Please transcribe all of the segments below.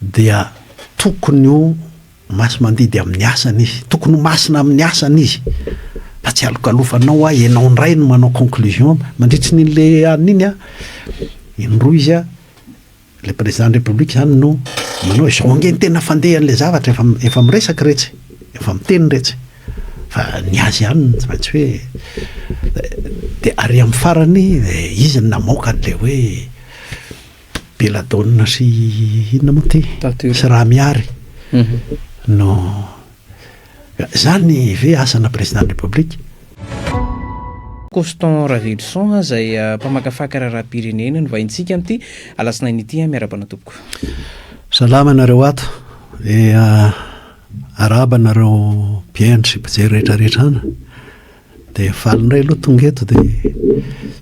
dia tokony ho masi-mandidy amin'ny asany izy, tokony ho masina amin'ny asany izy, fa tsy alokalofanao hoa ianao indray no manao conclusion mandritry ny le anona iny an, indroa izy an, le président de la république zany no manao izao ange ny tena fandehan'le zavatra efa efa miresaka retsy, efa miteny retsy, fa ny azy ihany no tsy maintsy hoe, dia ary amin'ny farany dia izy no namoaka an'le hoe. Belladonna sy inona moa ty? Tature. Sy Ramihary no zany ve asana président de la république? Constant Ravelison izay mpamakafaka raharaham-pirenena no vahintsika amin'ity alatsinainy ity an, miarahaba anao tompoko. Salama anareo ato, dia arahaba anareo mpihaino sy mpijery rehetra rehetra an! Dia faly indray aloha tonga eto dia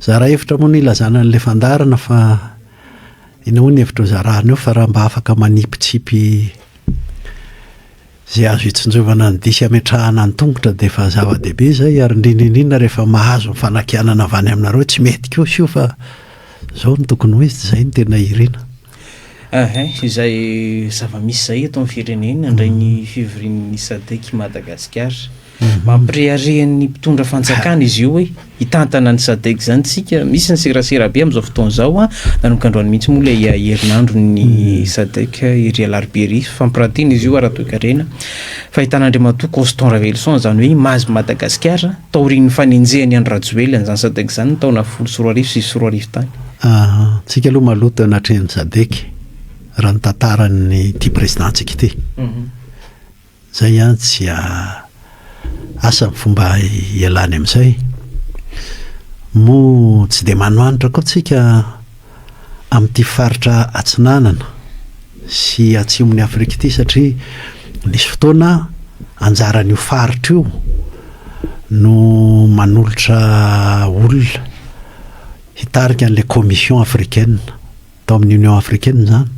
zara hevitra moa ny hilazana an'ilay fandaharana fa inona moa ny hevitra hozarana eo fa raha mba afaka manipitsipy izay azo hitsinjovana ny dihy sy hametrahana ny tongotra dia efa zava-dehibe izay ary indrindra indrindra rehefa mahazo ny fanakianana avy any aminareo tsy mety kosa io fa izao no tokony ho izy dia izay no tena irina. Ahay, izay zava-misy izay eto amin'ny firenena, indray ny fivorian'ny Sadec Madagasikara. Mampirehareha ny mpitondra fanjakana izy io hoe hitantana ny sadec zany tsika, misy ny serasera be amin'izao fotoana izao an, nanomboka androany mihitsy moa ilay herinandro ny sadec ery alarobia ery, fampirantiana izy io ara-toekarena, fahitana Andriamatoa Constant Raveloson izany hoe image ny Madagasikara taorian'ny fanenjehany Andry Rajoelina izany sadec izany ny taona folo sy roa arivo sy roa arivo tany. Aha, tsika aloha maloto anatrehan'ny sadec raha ny tantaran'ity président-tsika ity. Zay an tsy a asa ny fomba hialany amizay. Moa tsy dia manoanitra koa tsika amity faritra atsinanana sy atsimo ny Afrika ity satria nisy fotoana anjaran io faritra io no manolotra olona hitarika anle commission africaine. Tao amin'ny Union africaine izany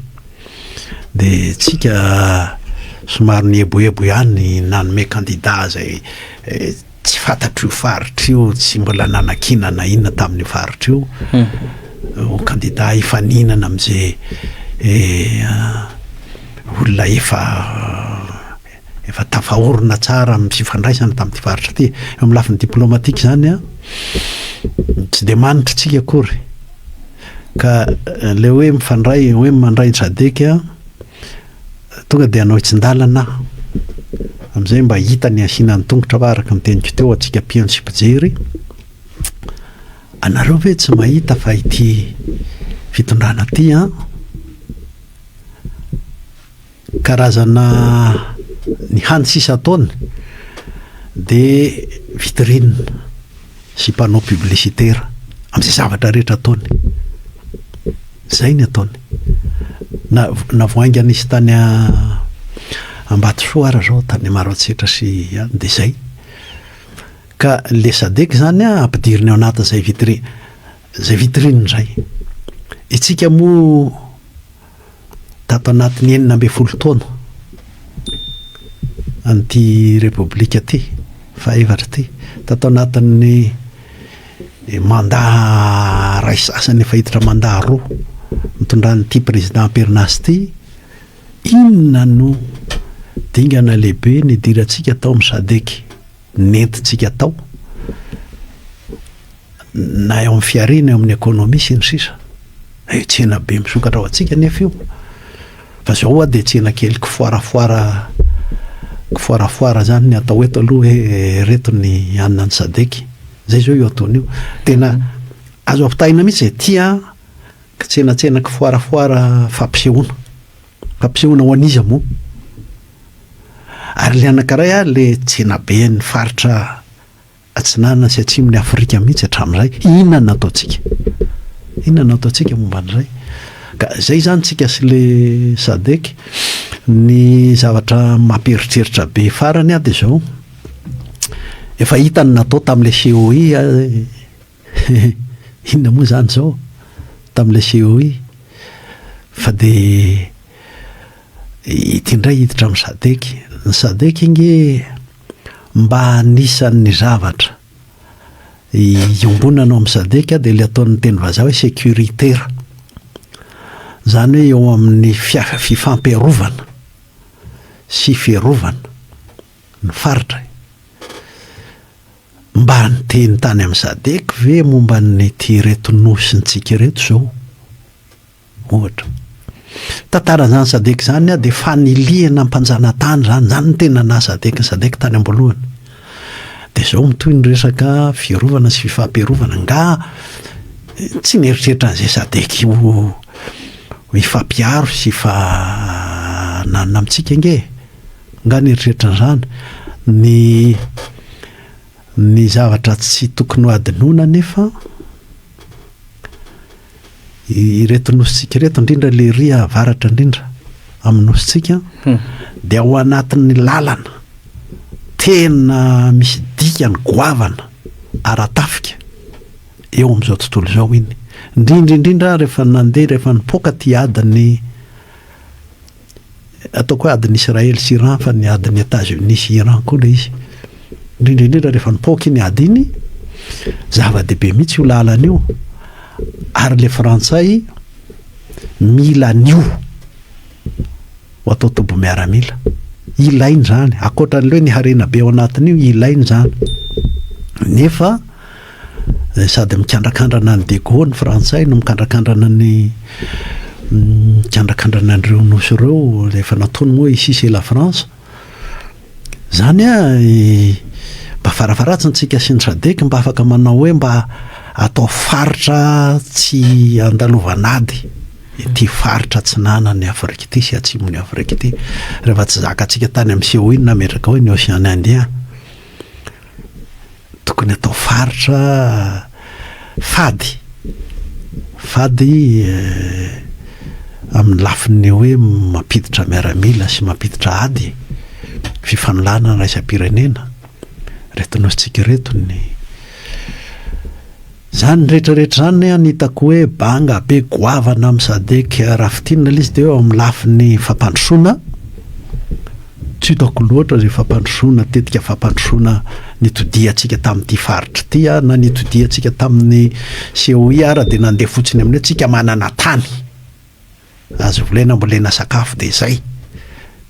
dia tsika somary nieboebo ihany ny nanome kandida izay tsy fantatr'io faritra io, tsy mbola nanakiana na inona tamin'io faritra io ho kandida hifaninana amin'izay olona efa Efa tafaorina tsara amin'ny fifandraisana tamin'ity faritra ity. Eo amin'ny lafiny diplomatika izany, tsy dia manitra isika akory. Ka ilay hoe mifandray, hoe mandray ny sadec, tonga dia hanao hitsin-dalana aho. Amin'izay mba hita ny asiana ny tongotra fa araka ny teniko teo antsika mpihaino sy mpijery, anareo ve tsy mahita fa ity fitondrana ity an, Karazana ny hany sisa ataony dia vitrine sy panneau publicitaire amin'izay zavatra rehetra ataony. Izay ny ataony. Na na vao hainga nisy tany Ambatosoa ary izao tany Maroantsetra sy any dia izay. Ka ilay sadec izany an ampidiriny ao anatin'izay vitrine izay vitrine izay. Isika moa Tato anatin'ny enina ambin'ny folo taona an'ity Repoblika ity, fahefatra ity, tato anatin'ny manda iray sasany efa hiditra manda roa nitondran'ity Président Amperinasa ity, inona no dingana lehibe nidirantsika tao amin'ny Sadec? nentintsika atao na eo amin'ny fihariana eo amin'ny ekonomia sy ny sisa eh, tsena be misokatra ho antsika nefa io fa zao hoa dia tsena kely kifoarafoara kifoarafoara zany ny atao eto aloha hoe eh, reto ny anina ny sadeky zay zao io ataony io tena azo ampitahina mihitsy izay tia kitsenatsena kifoarafoara fampisehoana Ampisehoana ho an'iza moa? Ary ilay anankiray ary ilay tsenaben'ny faritra atsinanana sy atsimon'i Afrika mihitsy hatramin'izay, inona no ataontsika? Inona no ataontsika momba an'izay? Ka izay izany isika sy ilay Sadec. Ny zavatra mampieritreritra be farany dia izao, efa hita ny natao tamin'ilay COI. Hehe, inona moa izany izao tamin'ilay COI fa dia ity indray hiditra amin'ny sadec. Ny sadec ange mba anisan'ny zavatra iombonana ao amin'ny sadec dia ilay ataon'ny teny vazaha hoe securitaire. Izany hoe eo amin'ny fifampiarovana sy fiarovana ny faritra e. Mba niteny tany amin'ny Sadec ve momba an'ity ireto nosintsika ireto izao? Ohatra. Tantaran'izany Sadec izany ah dia fanilihana mpanjanatany izany, izany no tena naha Sadec ny Sadec tany am-boalohany. Dia izao mitohy ny resaka fiarovana sy fifampiarovana. Angaha tsy nieritreritra an'izay Sadec io ho hifampiaro sy hifananona amintsika ange e? Nga nieritreritra an'izany? Ny ny zavatra tsy tokony ho adinoina anefa ireto nosintsika ireto indrindra le ry avaratra indrindra amin'ny nosintsika hmm. dia ao anatin'ny lalana tena misy dikany goavana ara-tafika eo amin'izao tontolo izao iny indrindra indrindra rehefa nandeha rehefa nipoaka ty adiny Ataoko hoe adin'i Israely sy Iran fa ny adin'i Etats Unis sy Iran koa ilay izy. Indrindra indrindra rehefa nipoaka iny ady iny, zava-dehibe mihitsy io lalana io. Ary ilay Frantsay mila an'io ho atao toby miaramila. Ilainy izany, ankoatra an'ilay hoe ny harena be ao anatin'io, ilainy izany. Nefa Sady mikandrakandrana an'i De Gaulle ny Frantsay no mikandrakandrana ny mikandrakandrana an'ireo Nosy ireo rehefa nataony moa ici c'est la France. Izany mba farafaharatsiny tsika sy ny Sadec mba afaka manao hoe mba atao faritra tsy andalovan'ady ity faritra atsinanan'i Afrika ity sy atsimon'i Afrika ity. Rehefa tsy zakantsika tany amin'ny COI no nametraka hoe ny Ocean Indien. Tokony atao faritra fady, fady amin'ny lafiny hoe mampiditra miaramila sy mampiditra ady, fifanolanana iraisam-pirenena, ireto nosintsika ireto ny. Zany rehetra rehetra zany an hitako hoe banga be goavana am sadec raha fitinina lzy de eo am lafiny fampandrosoana tsy hitako loatra ze fampandrosoana tetika fampandrosoana nitodiantsika tamty faritra ty an na nitodiantsika taminy COI ara de nandeha fotsiny aminy hoe tsika manana tany Azo volena ambolena sakafo dia izay.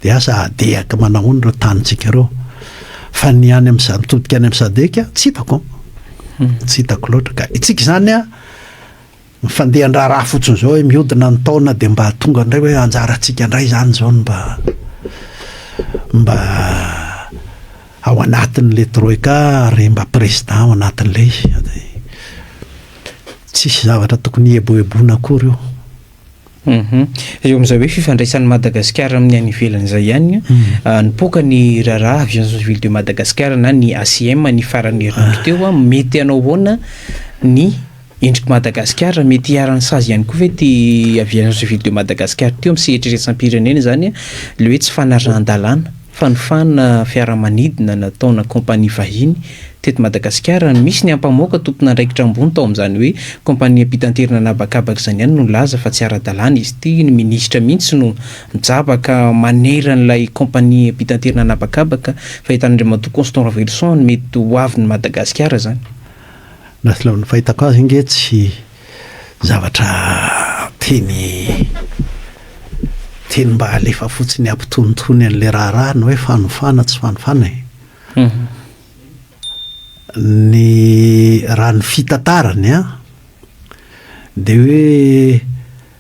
Dia aza adehaka manahoana ireo tanintsika ireo. Fa ny any amin'ny mitodika any amin'ny sadec tsy hitako. Hmm. Tsy hitako loatra ka. Itsika izany a mifandeha andraharaha fotsiny izao hoe mihodina ny taona dia mba tonga indray hoe anjarantsika indray izany izao no mba mba ao anatin'ilay troika ary mba président ao anatin'ilay izy. Tsisy zavatra tokony hieboeboana akory io. Hum. Eo amin'izay hoe fifandraisan'i Madagasikara amin'ny any ivelany izay ihany, nipoaka ny raharaha Aviation Civile de Madagascar na ny ACM ny faran'ny herinandro teo. Mety hanao ahoana ny endrik'i Madagasikara? Mety hiharan'ny sazy ihany koa ve ity Aviation Civile de Madagascar ity eo amin'ny sehatra iraisam-pirenena izany, ilay hoe tsy fanarahan-dalàna? Fanofana fiaramanidina nataona kaompania vahiny teto Madagasikara no misy ny ampamoaka tompon'andraikitra ambony tao amin'izany hoe kaompania mpitaterina an'habakabaka izany ihany no nilaza fa tsy ara-dalàna izy ity, ny minisitra mihitsy no mijabaka manerana ilay kaompania mpitaterina an'habakabaka fa entan'Andriamatoa Constant Raveloson ny mety ho avin'i Madagasikara izany. Na tsy leo ny fahitako azy ange tsy zavatra tiany tiany mba halefa fotsiny hampitonitony an'ilay raharaha ny hoe fanofana tsy fanofana e. Mhm. Ny raha ny fitantarany a dia hoe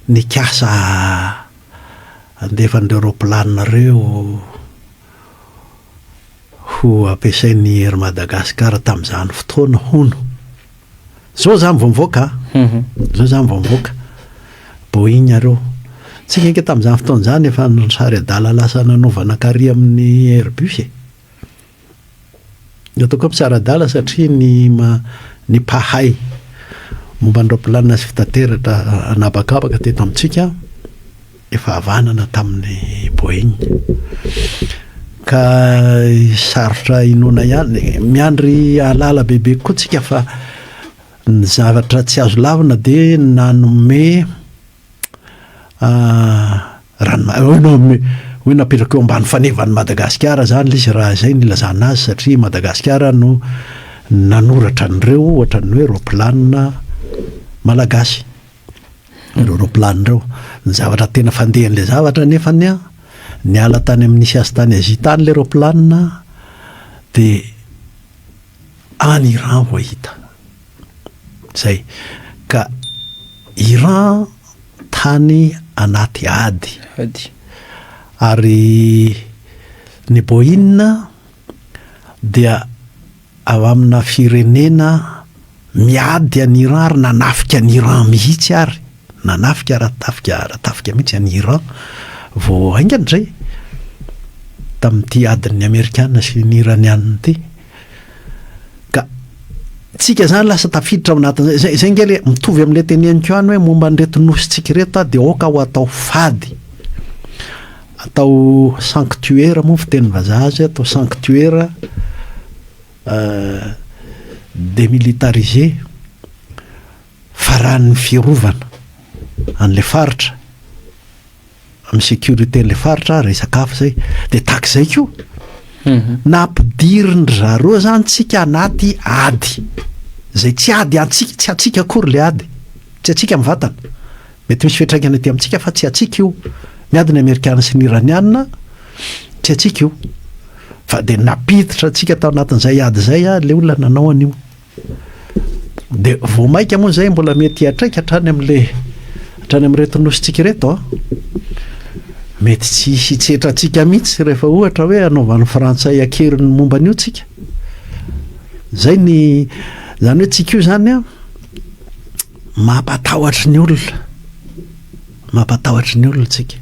nikasa handefa an'ireo raopilanina ireo ho ampiasain'i Air Madagascar tamin'izany fotoana hono. Zao zany vao mivoaka a, zao zany vao mivoaka Boeing areo. Tsika ange tamin'izany fotoana izany efa nisary adala lasa nanaovana kary amin'ny Airbus e. Ny ataoko hoe mpisara adala satria ny ny mpahay momba ny raoplanina sy fitateratra an'habakabaka teto amintsika efa havanana tamin'ny Boeing ka sarotra inoana ihany. Miandry ahalala bebe kokoa tsika fa ny zavatra tsy azo lavina dia nanome ah, rano oh, no, hoe napetraka eo ambany fanevan'i Madagasikara izany ilay izy raha izay no ilazana azy satria Madagasikara no nanoratra an'ireo ohatran'ny hoe ropilanina malagasy. ireo roplany ireo. Ny zavatra tena fandehan'ilay zavatra anefany an, niala tany amin'ny Nisy Azy tany Azia tany ilay roplana dia any Iran vao hita. Izay. Ka Iran tany anaty ady. Ady. Ary ny Boeing dia. Ao amina firenena miady an'i Iran ary nanafika an'i Iran mihitsy ary nanafika ara-tafika ara-tafika mihitsy an'i Iran vao haingana izay tamin'ity adin'ny Amerikana sy ny Iraniana ity. Ka tsika izany lasa tafiditra ao anatin'izay. Izay, izay nge le mitovy amin'ilay teneniko ihany hoe momba an'ireto nosintsika ireto dia aoka ho atao fady. Atao sanctuaire moa ny fiteny vazaha azy, atao sanctuaire demilitarisé, faran'ny fiarovana an'ilay faritra, amin'ny sécurité an'ilay faritra, resaka hafa izay. Dia tahaka izay koa, na ampidirin-dry zareo izany tsika anaty ady, izay tsy ady antsika, tsy antsika akory ilay ady, tsy antsika mivantana. Mety misy fiantraikany aty amintsika fa tsy antsika io. Miady ny Amerikana sy ny Iraniana, tsy antsika io. Fa dia nampiditra antsika tao anatin'izay ady izay ary ilay olona nanao an'io. Dia vao mainka moa izay mbola mety hiantraika hatrany amin'ilay hatrany amin'ireto nosintsika ireto. Mety tsy hisy hitsetra antsika mihitsy rehefa ohatra hoe anaovan'ny Frantsay an-keriny ny momba an'io tsika. Izay ny, izany hoe tsika io izany an, Mampatahotra ny olona, mampatahotra ny olona tsika.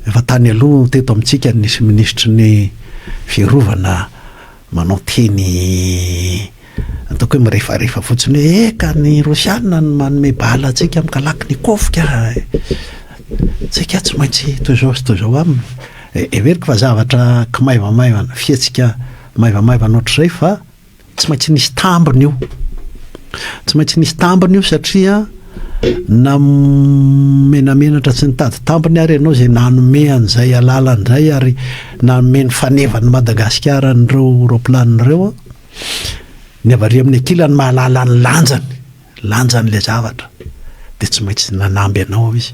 Efa tany aloha teto amintsika ny nisy minisitry ny fiarovana manao teny ataoko hoe mirefarefa fotsiny hoe eka ny rosiana no manome bala antsika mikalaky ny kofika tsika tsy maintsy toy izao sy toy izao aminy heveriko fa zavatra kimaivamaivana fihetsika maivamaivana ohatr'izay fa Tsy maintsy nisy tambiny io. Tsy maintsy nisy tambiny io satria na menamenatra tsy nitady tambiny ary ianao izay nanome an'izay alalana indray ary nanome ny fanevan'i Madagasikara an'ireo raoplanina ireo ny avary amin'ny ankilany mahalala ny lanjany, lanjan'ilay zavatra dia tsy maintsy nanamby anao izy.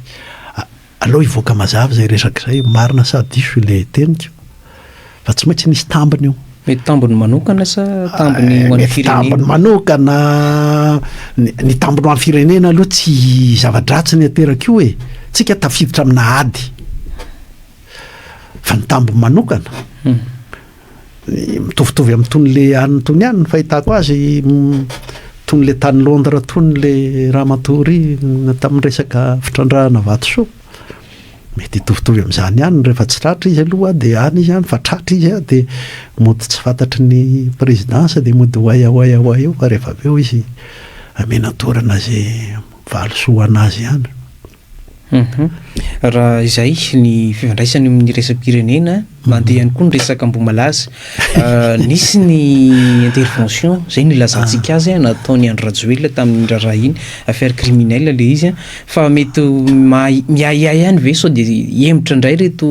Aleo hivoaka mazava izay resaka izay, marina sa diso ilay teniko fa tsy maintsy nisy tambiny io. Mety tambiny manokana sa tambiny ho an'ny firenena? Mety tambiny manokana, ny tambiny ho an'ny firenena aloha tsy zava-dratsy ny ateraka io e, tsika tafiditra amina ady, fa ny tambiny manokana. Mitovitovy am tony le any tony any ny fahitako azy tony le tany Londres tony le ramatoa ry tamin'ny resaka fitrandrahana vatosoa mety hitovitovy amin'izany ihany rehefa tsy tratra izy aloha dia any izy any fa tratra izy dia mody tsy fantatry ny présidence dia mody ho aia ho aia ho aia eo fa rehefa avy eo izy amenatorana izay valisoa ho an'azy ihany Raha izay ny fifandraisany amin' ny resa-pirenena, mandeha ihany koa ny resaka Ambohimalaza. Nisy ny intervention, izay no ilazantsika azy, nataon' i Andry Rajoelina tamin' iny raharaha iny, affaire criminelle ilay izy. Fa mety maha- miahiahy ihany ve sao dia hihemotra indray ireto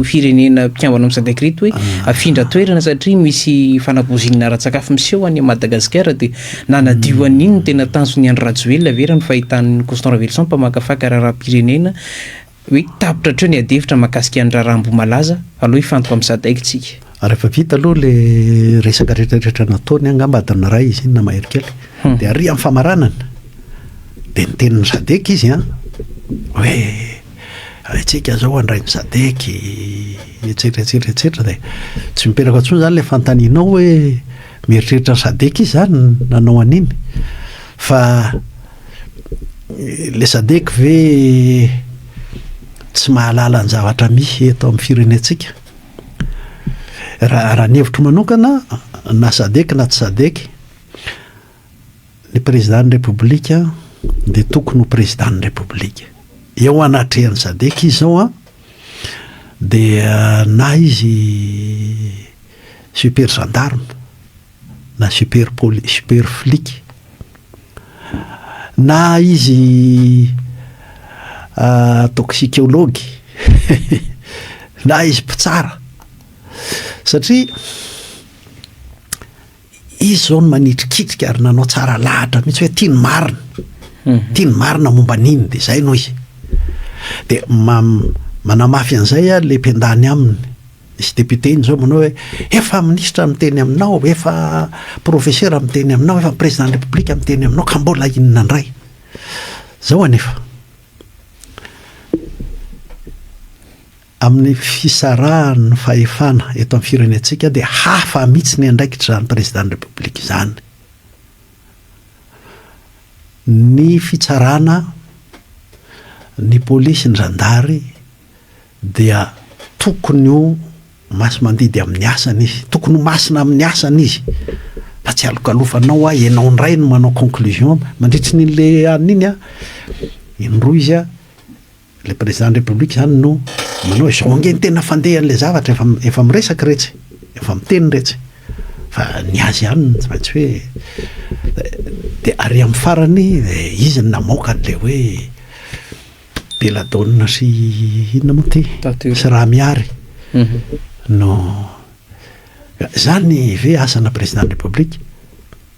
firenena mpikambana amin' ny Sadc ireto hoe afindra toerana satria misy fanabozina ara-tsakafo miseho any Madagasikara dia Nanadio an'iny ny tena tanjon'i Andry Rajoelina ve raha ny fahitan'i Constant Raveloson mpamakafaka raharaham-pirenena hoe tapitra hatreo ny adihevitra mahakasika an'ny raharaha Ambohimalaza? Aleo hifantoka amin'ny Sadec isika. Rehefa vita aloha ilay resaka rehetrarehetra nataony, angamba adiny iray izy iny na mahery kely, dia ary amin'ny famaranana dia niteny ny Sadec izy an, hoe haintsika izao handray ny Sadec etsetra etsetra etsetra dia tsy miteraka intsony izany ilay fanontanianao hoe. Mieritreritra ny sadec izy zany nanao an'iny fa le sadec ve tsy mahalala ny zavatra misy eto amin'ny firenentsika? Raha ny hevitro manokana na sadec na tsy sadec ny président ny république dia tokony ho président ny république eo anatrehan'ny sadec izy zao an! dia na izy super gendarme na super poli- super flic na izy toxicologue na izy mpitsara satria Izy izao no manitrikitrika ary nanao tsara lahatra mihitsy hoe tia ny marina, mhm. tia ny marina momba an'iny, dia izay no izy. Dia manamafy an'izay a le mpendany aminy izy député iny zao manao hoe efa minisitra miteny aminao efa professeur miteny aminao efa président de république miteny aminao ka mbola inona indray zao anefa Amin'ny fisarahan'ny fahefana eto amin'ny firenentsika dia hafa mihitsy ny andraikitr'izany Prezidàn'ny Repoblika izany. Ny fitsarana, ny polisy, ny zandary dia tokony ho masi-mandidy amin'ny asany izy, tokony ho masina amin'ny asany izy fa tsy alokalofanao hoa ianao indray no manao conclusion mandritry ny an'iny indroa izy. Ilay président de république izany no manao izao ange ny tena fandehan'ilay zavatra efa efa miresaka iretsy efa miteny iretsy fa ny azy ihany tsy maintsy hoe dia ary amin'ny farany izy no namoaka an'ilay hoe Belladonna sy inona moa ity sy raha mihary mhm. no izany ve asana président de république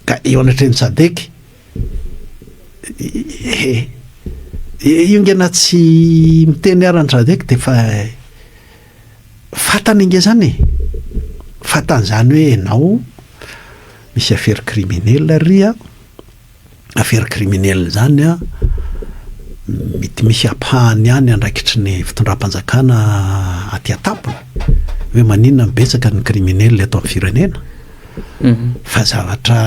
Ka eo anatrehan'ny sadec ee. Io nge na tsy miteny ara ny sadec dia efa fatany nge zany e. Fatany zany hoe enao misy affaire criminel ry a. Affaire criminel zany a mety misy ampahany ihany andraikitry ny fitondram-panjakana aty an-tampony hoe maninona no betsaka ny criminel eto amin'ny firenena. fa zavatra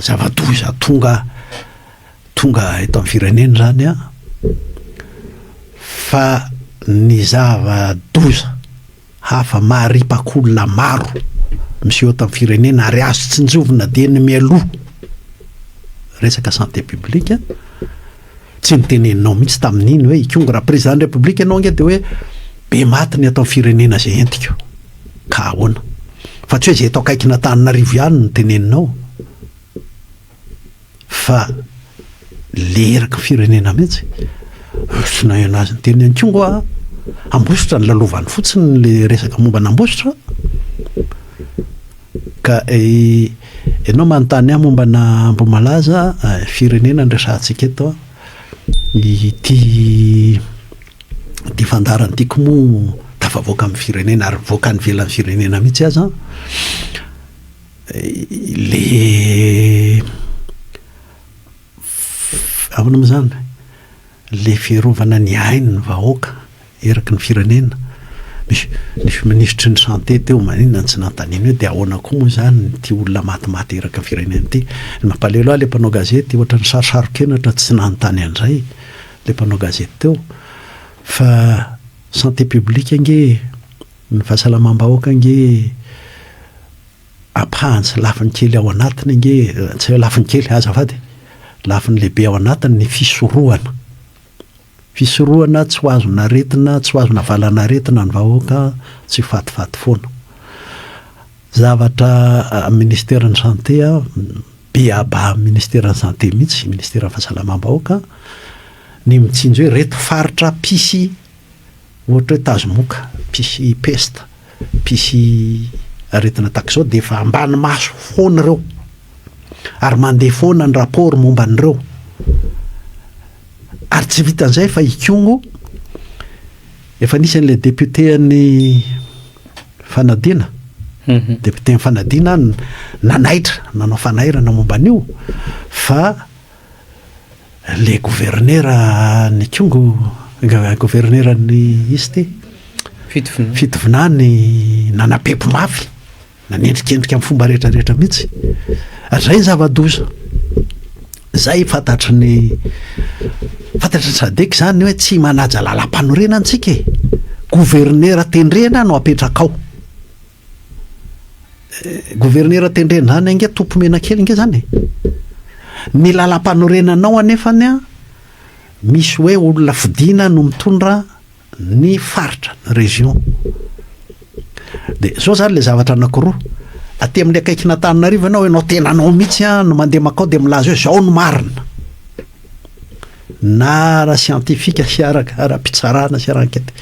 zava-doza tonga tonga eto amin'ny firenena izany an, fa ny zava-doza hafa maharipaky olona maro miseho eto amin'ny firenena ary azo tsinjovina dia ny mialoha resaka santé publique. Tsy noteneninao mihitsy tamin'iny hoe Ikongo raha président république ianao ange dia hoe be maty ny eto amin'ny firenena izay entiko ka ahoana? Fa tsy hoe izay eto akaikin'Antananarivo ihany no teneninao fa le eraky ny firenena mihitsy. Tsy naheno azy niteny an'i Kongo aho. Ambositra no lalovany fotsiny le resaka momba an'Ambositra. Ka ianao manontany ahy mombana Ambohimalaza, firenena no resahantsika eto an. Ity ity fandaharana ity koa moa tafavoaka amin'ny firenena ary mivoaka any ivelan'ny firenena mihitsy aza an. Ilay ahoana moa izany? Ilay fiarovana ny ain'ny vahoaka. eraky ny firenena, nisy minisitry ny santé teo maninona no tsy nanontaniana hoe dia ahoana koa moa izany ity olona matimaty eraky ny firenena ity? Ny mampalahelo ahy ilay mpanao gazety ohatran'ny sarosaron-kenatra tsy nanontany an'izay ilay mpanao gazety teo fa santé publique ange e, ny fahasalamam-bahoaka ange ampahany sy lafiny kely ao anatiny ange e, tsy hoe lafiny kely, azafady e, lafiny lehibe ao anatiny ny fisorohana. Fisorohana tsy ho azon' aretina, tsy ho azon' avalan' aretina ny vahoaka, tsy fatifaty foana. Zavatra Ministeran'ny Santé, beaba Ministeran'ny Santé mihitsy, Ministeran'ny Fahasalamam-bahoaka, ny mitsinjo hoe reto faritra mpisy Ohatra hoe tazomoka, mpisy pesta, mpisy aretina tahaka izao dia efa ambany maso foana ireo ary mandeha foana ny rapport momba an'ireo. Ary tsy vitan'izay fa i Kongo efa nisy an'ilay député an'ny fanadina, député an'ny fanadina nanaitra, nanao fanairana momba an'io fa le governera ny kongo governera ny izy ty fitovinany nanapepo mafy nanendrikendrika amin'ny fomba rehetra rehetra mihitsy zay ny zava-doza zay fantatry ny fantatry ny sadek zany hoe tsy manaja lalam-panorenana antsika e governera tendrena no apetrakao Governera tendrena any ange topo menakely nge zany e. Ny lalam-panorenanao anefany a misy hoe olona fidina no mitondra ny faritra ny région. Dia zao zany le zavatra anankiroa. Aty amin'ny akaikin'Antananarivo ianao ianao tena anao mihitsy a no mandeha makao dia milaza hoe zao no marina. na ara-siantifika sy ara-pitsarana sy ara-ankety.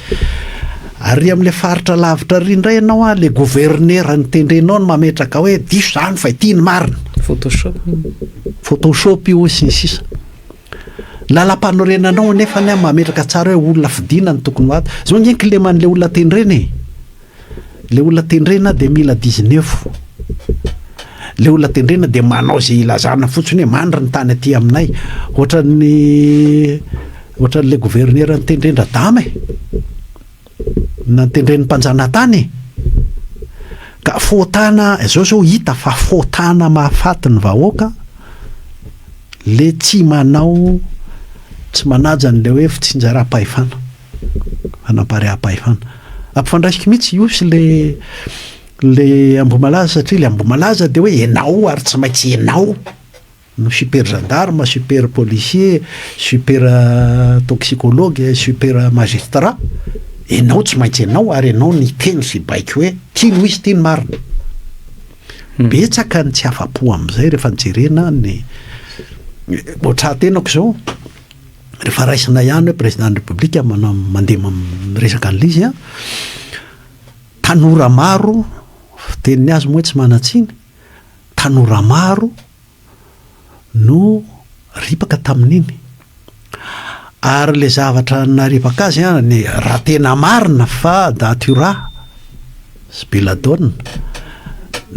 Ary amin'ilay faritra lavitra ary indray ianao an, ilay governera nitendrenao no mametraka hoe diso izany fa ity no marina. Photoshop. Photoshop io sy ny sisa. Lalam-panorenanao nefa ny mametraka tsara hoe olona fidina no tokony ho ato. Izao nge kileman'ilay olona tendrena e. Ilay olona tendrena dia mila dizneuf. Ilay olona tendrena dia manao izay ilazana fotsiny hoe mandry ny tany aty aminay. Ohatran'ny ohatran'ilay gouverneur nitendren-dRadama e. Nantendren'ny mpanjanatany e. Ka fotana, izao izao hita fa fotana mahafaty ny vahoaka le tsy manao tsy manaja an'ilay hoe fitsinjaram-pahefana. hanam-parehampahefana. Ampifandraisiko mihitsy io sy le le Ambohimalaza satria le Ambohimalaza dia hoe ianao ary tsy maintsy ianao no super gendarme, super policier, super euh, toxicologue, super euh, magistrat. Ianao tsy maintsy ianao ary ianao ny teny sy baiko hoe ty no izy ty ny marina. Hmm. Betsaka ny tsy afa-po amin'izay rehefa jerena ny eh, ohatran'ny tenako izao Rehefa raisina ihany hoe président ny république mandeha miresaka an'ilay izy an, tanora maro, fiteniny azy moa hoe tsy manan-tsiny, tanora maro no ripaka tamin'iny. Ary ilay zavatra naripaka azy an, raha tena marina fa daty ho rà, Sy Belladonna,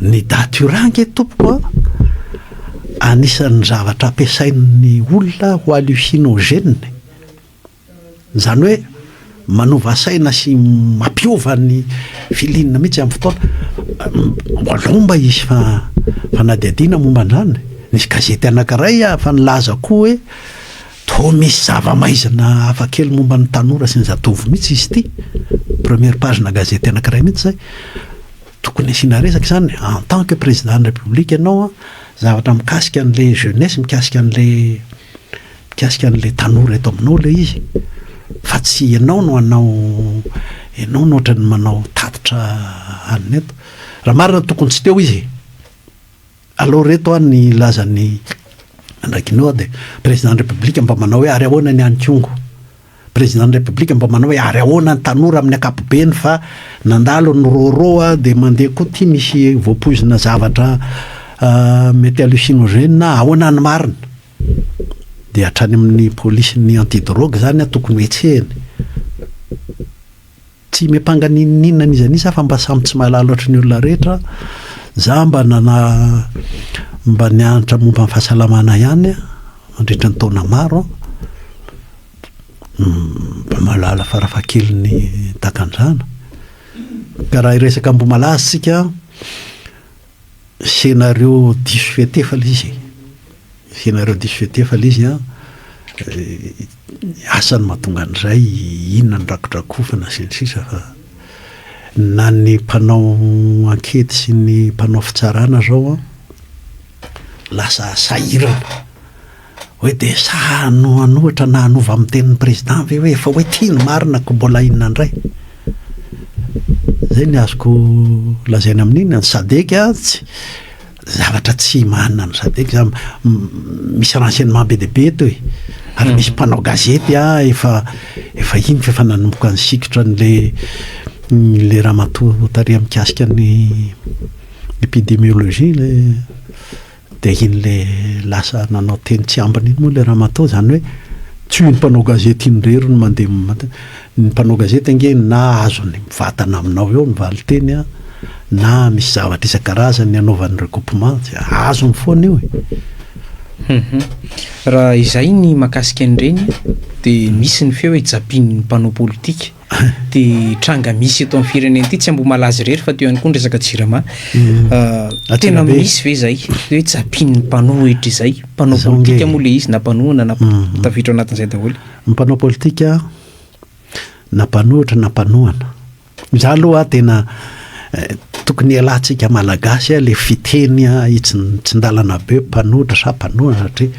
ny datura ange tompoko a, anisan'ny zavatra ampiasain'ny olona ho hallucinogène, izany hoe manova saina sy mampiova ny feeling mihitsy amin'ny fotoana, aleo mba hisy fanadihadiana momba an'izany, nisy gazety anankiray aho efa nilaza koa hoe Toa misy zava-maizina hafa kely momba ny tanora sy ny zatovo mihitsy izy ity. Première page-na gazety anankiray mihitsy izay. Tokony asiana resaka izany. En tant que président ny République ianao an, zavatra mikasika an'ilay jeunesse, mikasika an'ilay mikasika an'ilay tanora eto aminao ilay izy. Fa tsy ianao no hanao ianao no ohatran'ny manao tatitra alina eto. Raha marina tokony tsy teo izy e. Alou reto an ny lazan'i Andrakinode, Président ny République mba manao hoe ary ahoana ny any Kongo? Président ny République mba manao hoe ary ahoana ny tanora amin'ny ankapobeny fa nandalo ny rôrô a, dia mandeha koa ty misy voapoizina zavatra mety hallucinogène a, ahoana ny marina? Dia hatrany amin'ny polisin'ny anti-drogue zany an tokony ho hetsehina. Tsy miampanga n'inon'inona an'iza an'iza fa mba samy tsy mahalala ohatry ny olona rehetra za mba nana mba nianatra momba ny fahasalamana ihany mandritra ny taona maro mba mahalala farafahakeliny takan'izany ka raha hiresaka ambohimalaza isika Scénario diso fihetefa ilay izy e. Scénario diso fihetefa ilay izy an. Asa ny mahatonga an'izay, inona no rakidrakofana sy ny sisa fa na ny mpanao ankety sy ny mpanao fitsarana izao an, lasa sahirana. Hoe dia sa hanohanohitra na hanova amin'ny tenin'ny président ve hoe efa hoe tia ny marina ko mbola inona indray? Zay ny azoko lazaina amin'iny, ny sadec tsy zavatra tsy imanina ny sadec za misy renseignement be dia be eto e, ary misy mpanao gazety ah efa efa iny fa efa nanomboka nisikitra an'le le ramatoa tariha mikasika ny epidemiologie le. Dia iny ilay lasa nanao teny tsy ambiny iny moa ilay ramatoa, izany hoe tsy io mpanao gazety iny irery no mandeha, ny mpanao gazety ange na azony mivatana aminao eo ny valin-teny an, na misy zavatra isan-karazany anaovany recoupement, dia azony foana io e! Raha izay ny mahakasika an'ireny dia misy ny feo hoe japin'ny mpanao politika. Dia tranga misy eto amin'ny firenena ity, tsy Ambohimalaza irery fa teo ihany koa ny resaka jirama. Tena misy ve izay hoe japian'ny mpanohitra izay? Mpanao politika moa ilay izy na mpanohana na tafiditra anatin'izay daholo. Ny mpanao politika na mpanohitra na mpanohana. Izaho aloha tena Tokony hialantsika malagasy a le fiteny a hitsin-tsindalana be mpanohitra sa mpanohana satria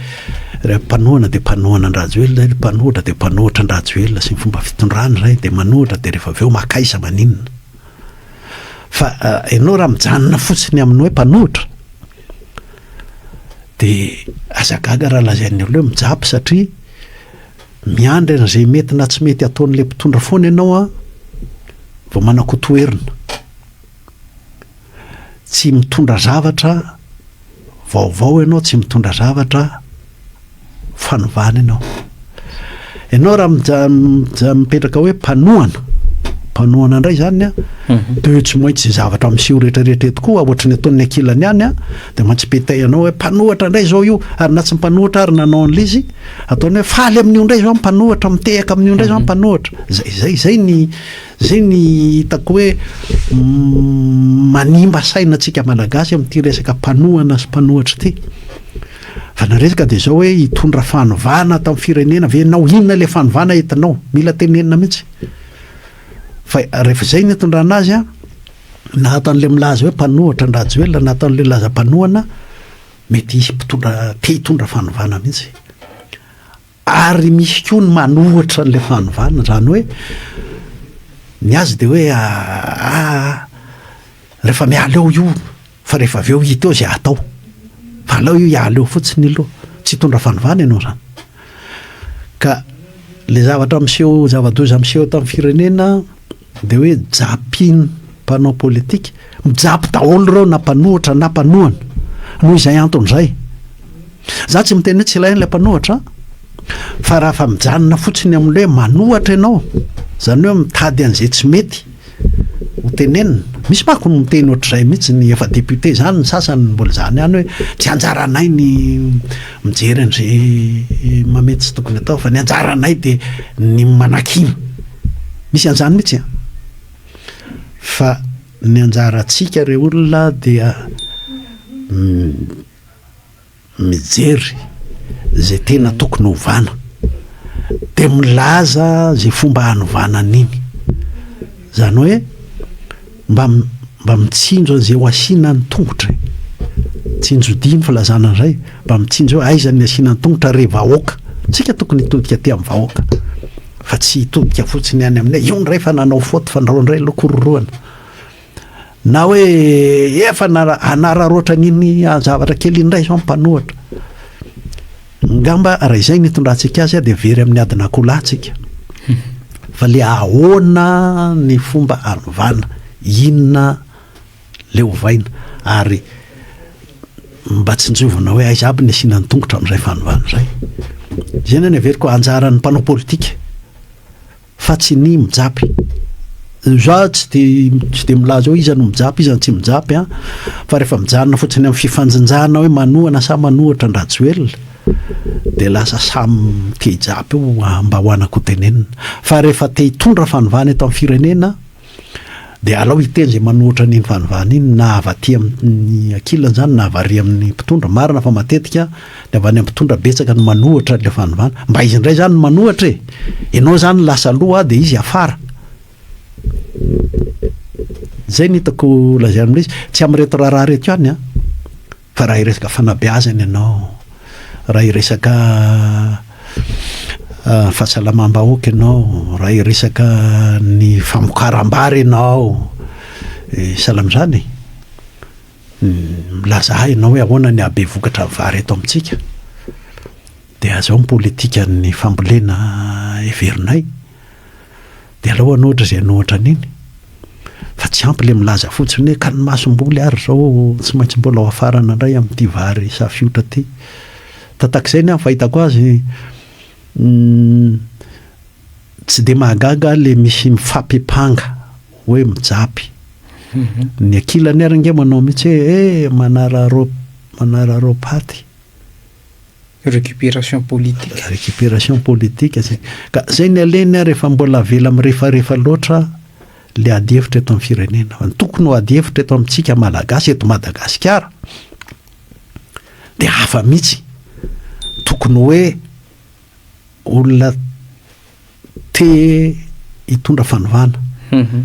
raha mpanohana dia mpanohana an-dRajoelina zay, mpanohitra dia mpanohitra an-dRajoelina sy ny fomba fitondrany zay dia manohitra dia rehefa avy eo maka aiza maninona? Fa ianao raha mijanona fotsiny amin'ny hoe mpanohitra dia aza gaga raha lazain'ny olona hoe mijapy satria Miandry an'izay mety na tsy mety ataon'ilay mpitondra foana ianao an, vao manakotoherina. Tsy mitondra zavatra vaovao ianao, tsy mitondra zavatra fanovana ianao. Ianao raha mija, mija, mipetraka hoe mpanohana, mpanohana indray izany an, mhm. dia tsy maintsy izay zavatra miseho rehetrarehetra eto koa, ohatry ny ataon'ny ankilany ihany an, dia mantsy petay anao hoe mpanohatra indray izao io, ary na tsy mpanohatra ary nanao an'ilay izy, Ataony hoe faly amin'io indray izao ny mpanohitra, mitehaka amin'io indray izao ny mhm. mpanohitra. Zay, zay, zay ny, zay ny hitako hoe mm, manimba saina antsika malagasy amin'ity resaka mpanohana sy mpanohitra ity. Fa na resaka dia izao hoe hitondra fanovana ato amin'ny firenena ve ianao, inona ilay fanovana entinao, mila tenenina mihitsy. Fa rehefa izay ny hitondrana azy, na ataon'ilay milaza hoe mpanohitra an-drajoelina, na ataon'ilay laza mpanohana, Mety hisy mpitondra te hitondra fanovana mihitsy ary misy koa ny manohitra an'ilay fanovana, izany hoe ny azy dia hoe ah rehefa miala eo io fa rehefa avy eo hita eo izay hatao, fa aleo io hiala eo fotsiny aloha, tsy hitondra fanovana ianao izany. Ka ilay zavatra miseho, zava-doza miseho eto amin'ny firenena. Dia hoe japin mpanao politika, mijapy daholo ireo na mpanohitra na mpanohana, noho izay antony izay. Za tsy miteny hoe tsy ilaina ilay mpanohitra an! Fa raha fa mijanona fotsiny amin'ny hoe manohatra ianao, izany hoe mitady an'izay tsy mety ho tenenina. Misy manko no miteny ohatr'izay mihitsy ny efa député izany ny sasany mbola izany ihany hoe tsy anjaranay ny mijery an'izay mamety tsy tokony atao fa ny anjaranay dia ny manakiana. Misy an'izany mihitsy an! Fa ny anjarantsika ry olona dia mijery izay tena tokony hovana, dia milaza izay fomba hanovana an'iny. Izany hoe. Mba mba mitsinjo an'izay ho asiana ny tongotra e! Tsinjodia ny filazana an'izay, mba mitsinjo hoe aiza ny asiana ny tongotra re vahoaka! Isika tokony hitodika aty amin'ny vahoaka fa tsy hitodika fotsiny any aminay, io indray efa nanao faute fa andrao indray aloha kororohana na hoe efa hanararaotra an'iny zavatra kely iny indray izao ny mpanohatra. Ngamba raha izay no hitondrantsika azy dia very amin'ny adin'akoho lahy tsika. Fa le ahoana ny fomba anovana, inona le ovaina ary mba tsinjovina hoe aiza aby ny asiana ny tongotra amin'izay fanovana izay. Izay no any heveriko anjaran'ny mpanao politika. fa tsy ny mijapy. Za tsy de tsy de milaza hoe iza no mijapy iza no tsy mijapy an, fa rehefa mijanona fotsiny amin'ny fifanjinjana hoe manohana sa manohatra an-dRajoelina dia lasa samy te hijapy eo mba ho anako ho tenenina. Fa rehefa te hitondra fanovana eto amin'ny firenena, Dia alao hiteny izay manoatra an'iny fanovana iny na avy aty amin'ny ankilany izany na avy ary amin'ny mpitondra. Marina fa matetika ny avy any amin'ny mpitondra betsaka no manoatra an'ilay fanovana. Mba izy indray izany no manoatra e! Ianao izany lasa aloha dia izy afara. Izay no hitako lazaina amin'ilay izy. Tsy amin'ireto raharaha ireto ihany an! Fa raha hiresaka fanabeazana ianao, raha hiresaka fahasalamam-bahoaka ianao, raha hiresaka ny famokaram-bary ianao, sahala amin'izany e. Milaza ahy ianao hoe ahoana ny habe vokatra ny vary eto amintsika, dia izao ny politikan'ny fambolena heverinay. Dia alao hanohitra izay hanohitra an'iny, fa tsy ampy ilay milaza fotsiny hoe ka ny masomboly ary izao tsy maintsy mbola hoafarana indray amin'ity vary safiotra ity. Tatak'izay ny ahy ny fahitako azy, tsy dia mahagaga ahy ilay misy mifampipanga hoe mijapy. Ny ankilany ary ange manao mihitsy hoe eh manararao manararao paty. Récupération politique. Récupération politique zay. Ka zay ny alehany ary efa mbola avela mirefarefa loatra le ady hevitra eto amin'ny firenena. Fa ny tokony ho ady hevitra eto amintsika Malagasy eto Madagasikara dia hafa mihitsy. Tokony hoe olona Te hitondra fanovana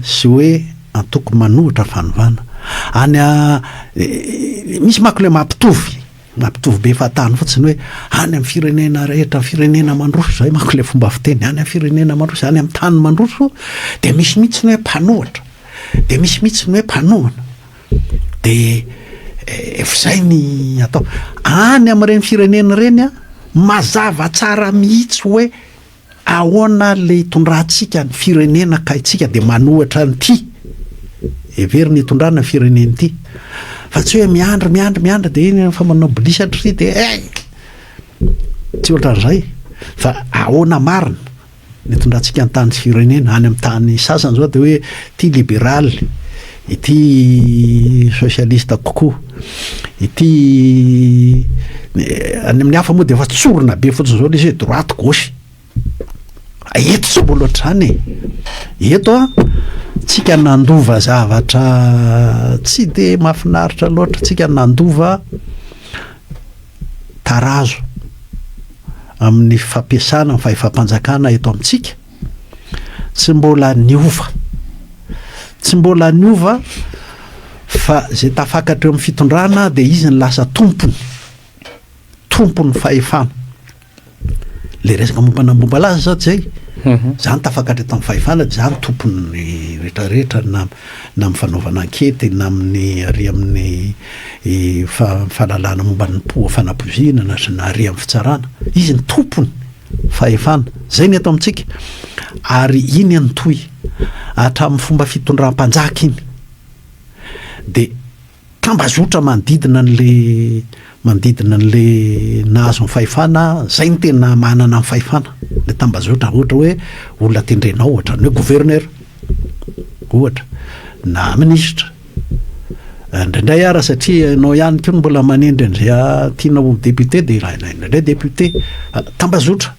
sy hoe antoko manohitra fanovana. Any a, misy manko ilay mampitovy, mampitovy be fahatany fotsiny hoe any amin'ny firenena rehetra, firenena mandroso, izay manko ilay fomba fiteny, any amin'ny firenena mandroso, any amin'ny tany mandroso, dia misy mihitsy ny hoe mpanohitra, dia misy mihitsy ny hoe mpanohana. Dia efa izay ny atao. Any amin'ireny firenena ireny a, mazava tsara mihitsy hoe Ahoana le itondrantsika ny firenena ka itsika de manohatra an'ity heverina itondrana firenena ity fa tsy hoe miandry miandry miandry de iny efa manao bilisy hatry de eh! tsy ohatran'izay fa ahoana marina ny itondrantsika ny tany sy firenena any amin'ny tany sasany zao de hoe ty liberaly Ity socialiste kokoa ity any amin'ny hafa moa dia efa tsorina be fotsiny izao le izy hoe droite gauche eto tsy mbola ohatr'izany e eto a tsika nandova zavatra tsy de mahafinaritra loatra tsika nandova tarazo amin'ny fampiasana ny fahefam-panjakana eto amintsika Tsy mbola niova. Tsy mbola niova fa izay tafakatra eo amin'ny fitondrana dia izy no lasa tompony, tompon'ny fahefana. Ilay resaka momba ny Ambohibalaza izao izay, mhm. za no tafakatra eto amin'ny fahefana dia za no tompon'ny rehetrarehetra na na amin'ny fanaovana ankety na amin'ny ary amin'ny eh, fahalalana momba ny poa fanapoviana na na ary amin'ny fitsarana. Izy ny tompony. Fahefana. Izay ny eto amintsika. Ary iny an toi, hatramin'ny fomba fitondram-panjaka iny, dia tambazotra manodidina an'ilay manodidina an'ilay nahazo ny fahefana, izay no tena manana ny fahefana, ilay tambazotra, ohatra hoe olona tendrenao, ohatran'ny hoe gouverneur. Ohatra, na minisitra. Indraindray ara satria ianao ihany koa no mbola manendry an'izay tianao ho député dia ilaina indraindray député. Tambazotra,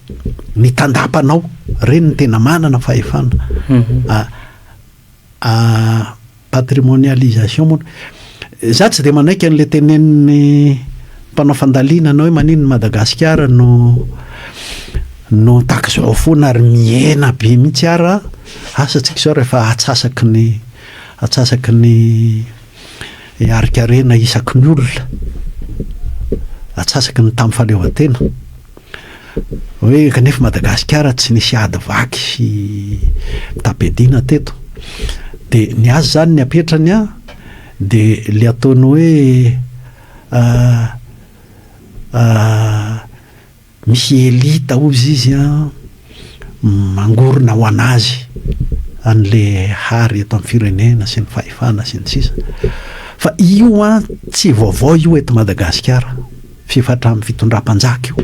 ny tandapanao, ireny no tena manana fahefana. Mhm. Patrimonialisation moa. Za tsy dia manaiky an'ilay tenenin'ny mpanao fandalinana hoe maninona Madagasikara no no tak'izao foana ary mihena be mihitsy ara asa tsika izao rehefa atsasaky ny atsasaky ny harikarena isaky ny olona atsasaky ny tamin'ny fahaleovantena Hoe kanefa Madagasikara tsy nisy ady vaky sy mitam-piadiana teto. Dia ny azy izany ny apetrany an, dia ilay ataony hoe misy elite hozy izy an, mangorona ho an'azy an'ilay hary eto amin'ny firenena sy ny fahefana sy ny sisa. Fa io an, tsy vaovao io eto Madagasikara. Fifatran'ny fitondram-panjaka io.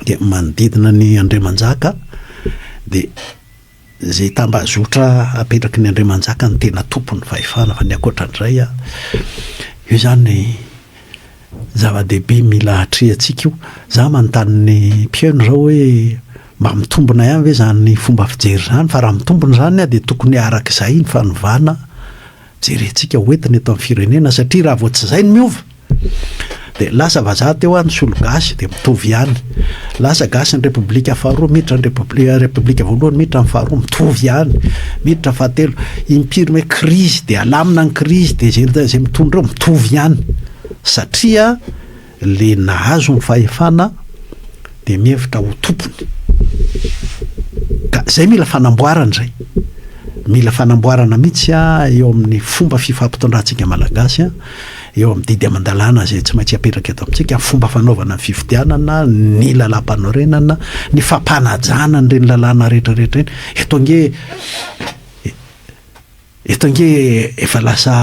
Dia manodidina ny andriamanjaka dia izay tambazotra apetraky ny andriamanjaka no tena tompon'ny fahefana fa ny ankoatra an'izay a, io izany zava-dehibe mila atrehantsika io. Izaho manontany ny mpihaino izao hoe mba mitombina ihany ve izany fomba fijery izany fa raha mitombina izany dia tokony araka izay ny fanovana. jerentsika ho entina eto amin'ny firenena satria raha vao tsy izay no miova dia lasa vazaha teo any solo gasy dia mitovy ihany lasa gasy ny repoblika faharoa miditra ny repoblika repoblika voalohany miditra ny faharoa mitovy ihany miditra fahatelo impiry hoe krizy dia alamina ny krizy dia izay izay mitondra eo mitovy ihany satria le nahazo ny fahefana de mihevitra ho tompony ka zay mila fanamboarana zay mila fanamboarana mihitsy a eo amin'ny fomba fifampitondrantsika malagasy a eo amin'ny didy aman-dalàna zay tsy maintsy apetraka eto amintsika fomba fanaovana ny fifidianana ny lalam-panorenana ny fampanajana an'ireny lalàna rehetrarehetra eny eto ange eto ange efa lasa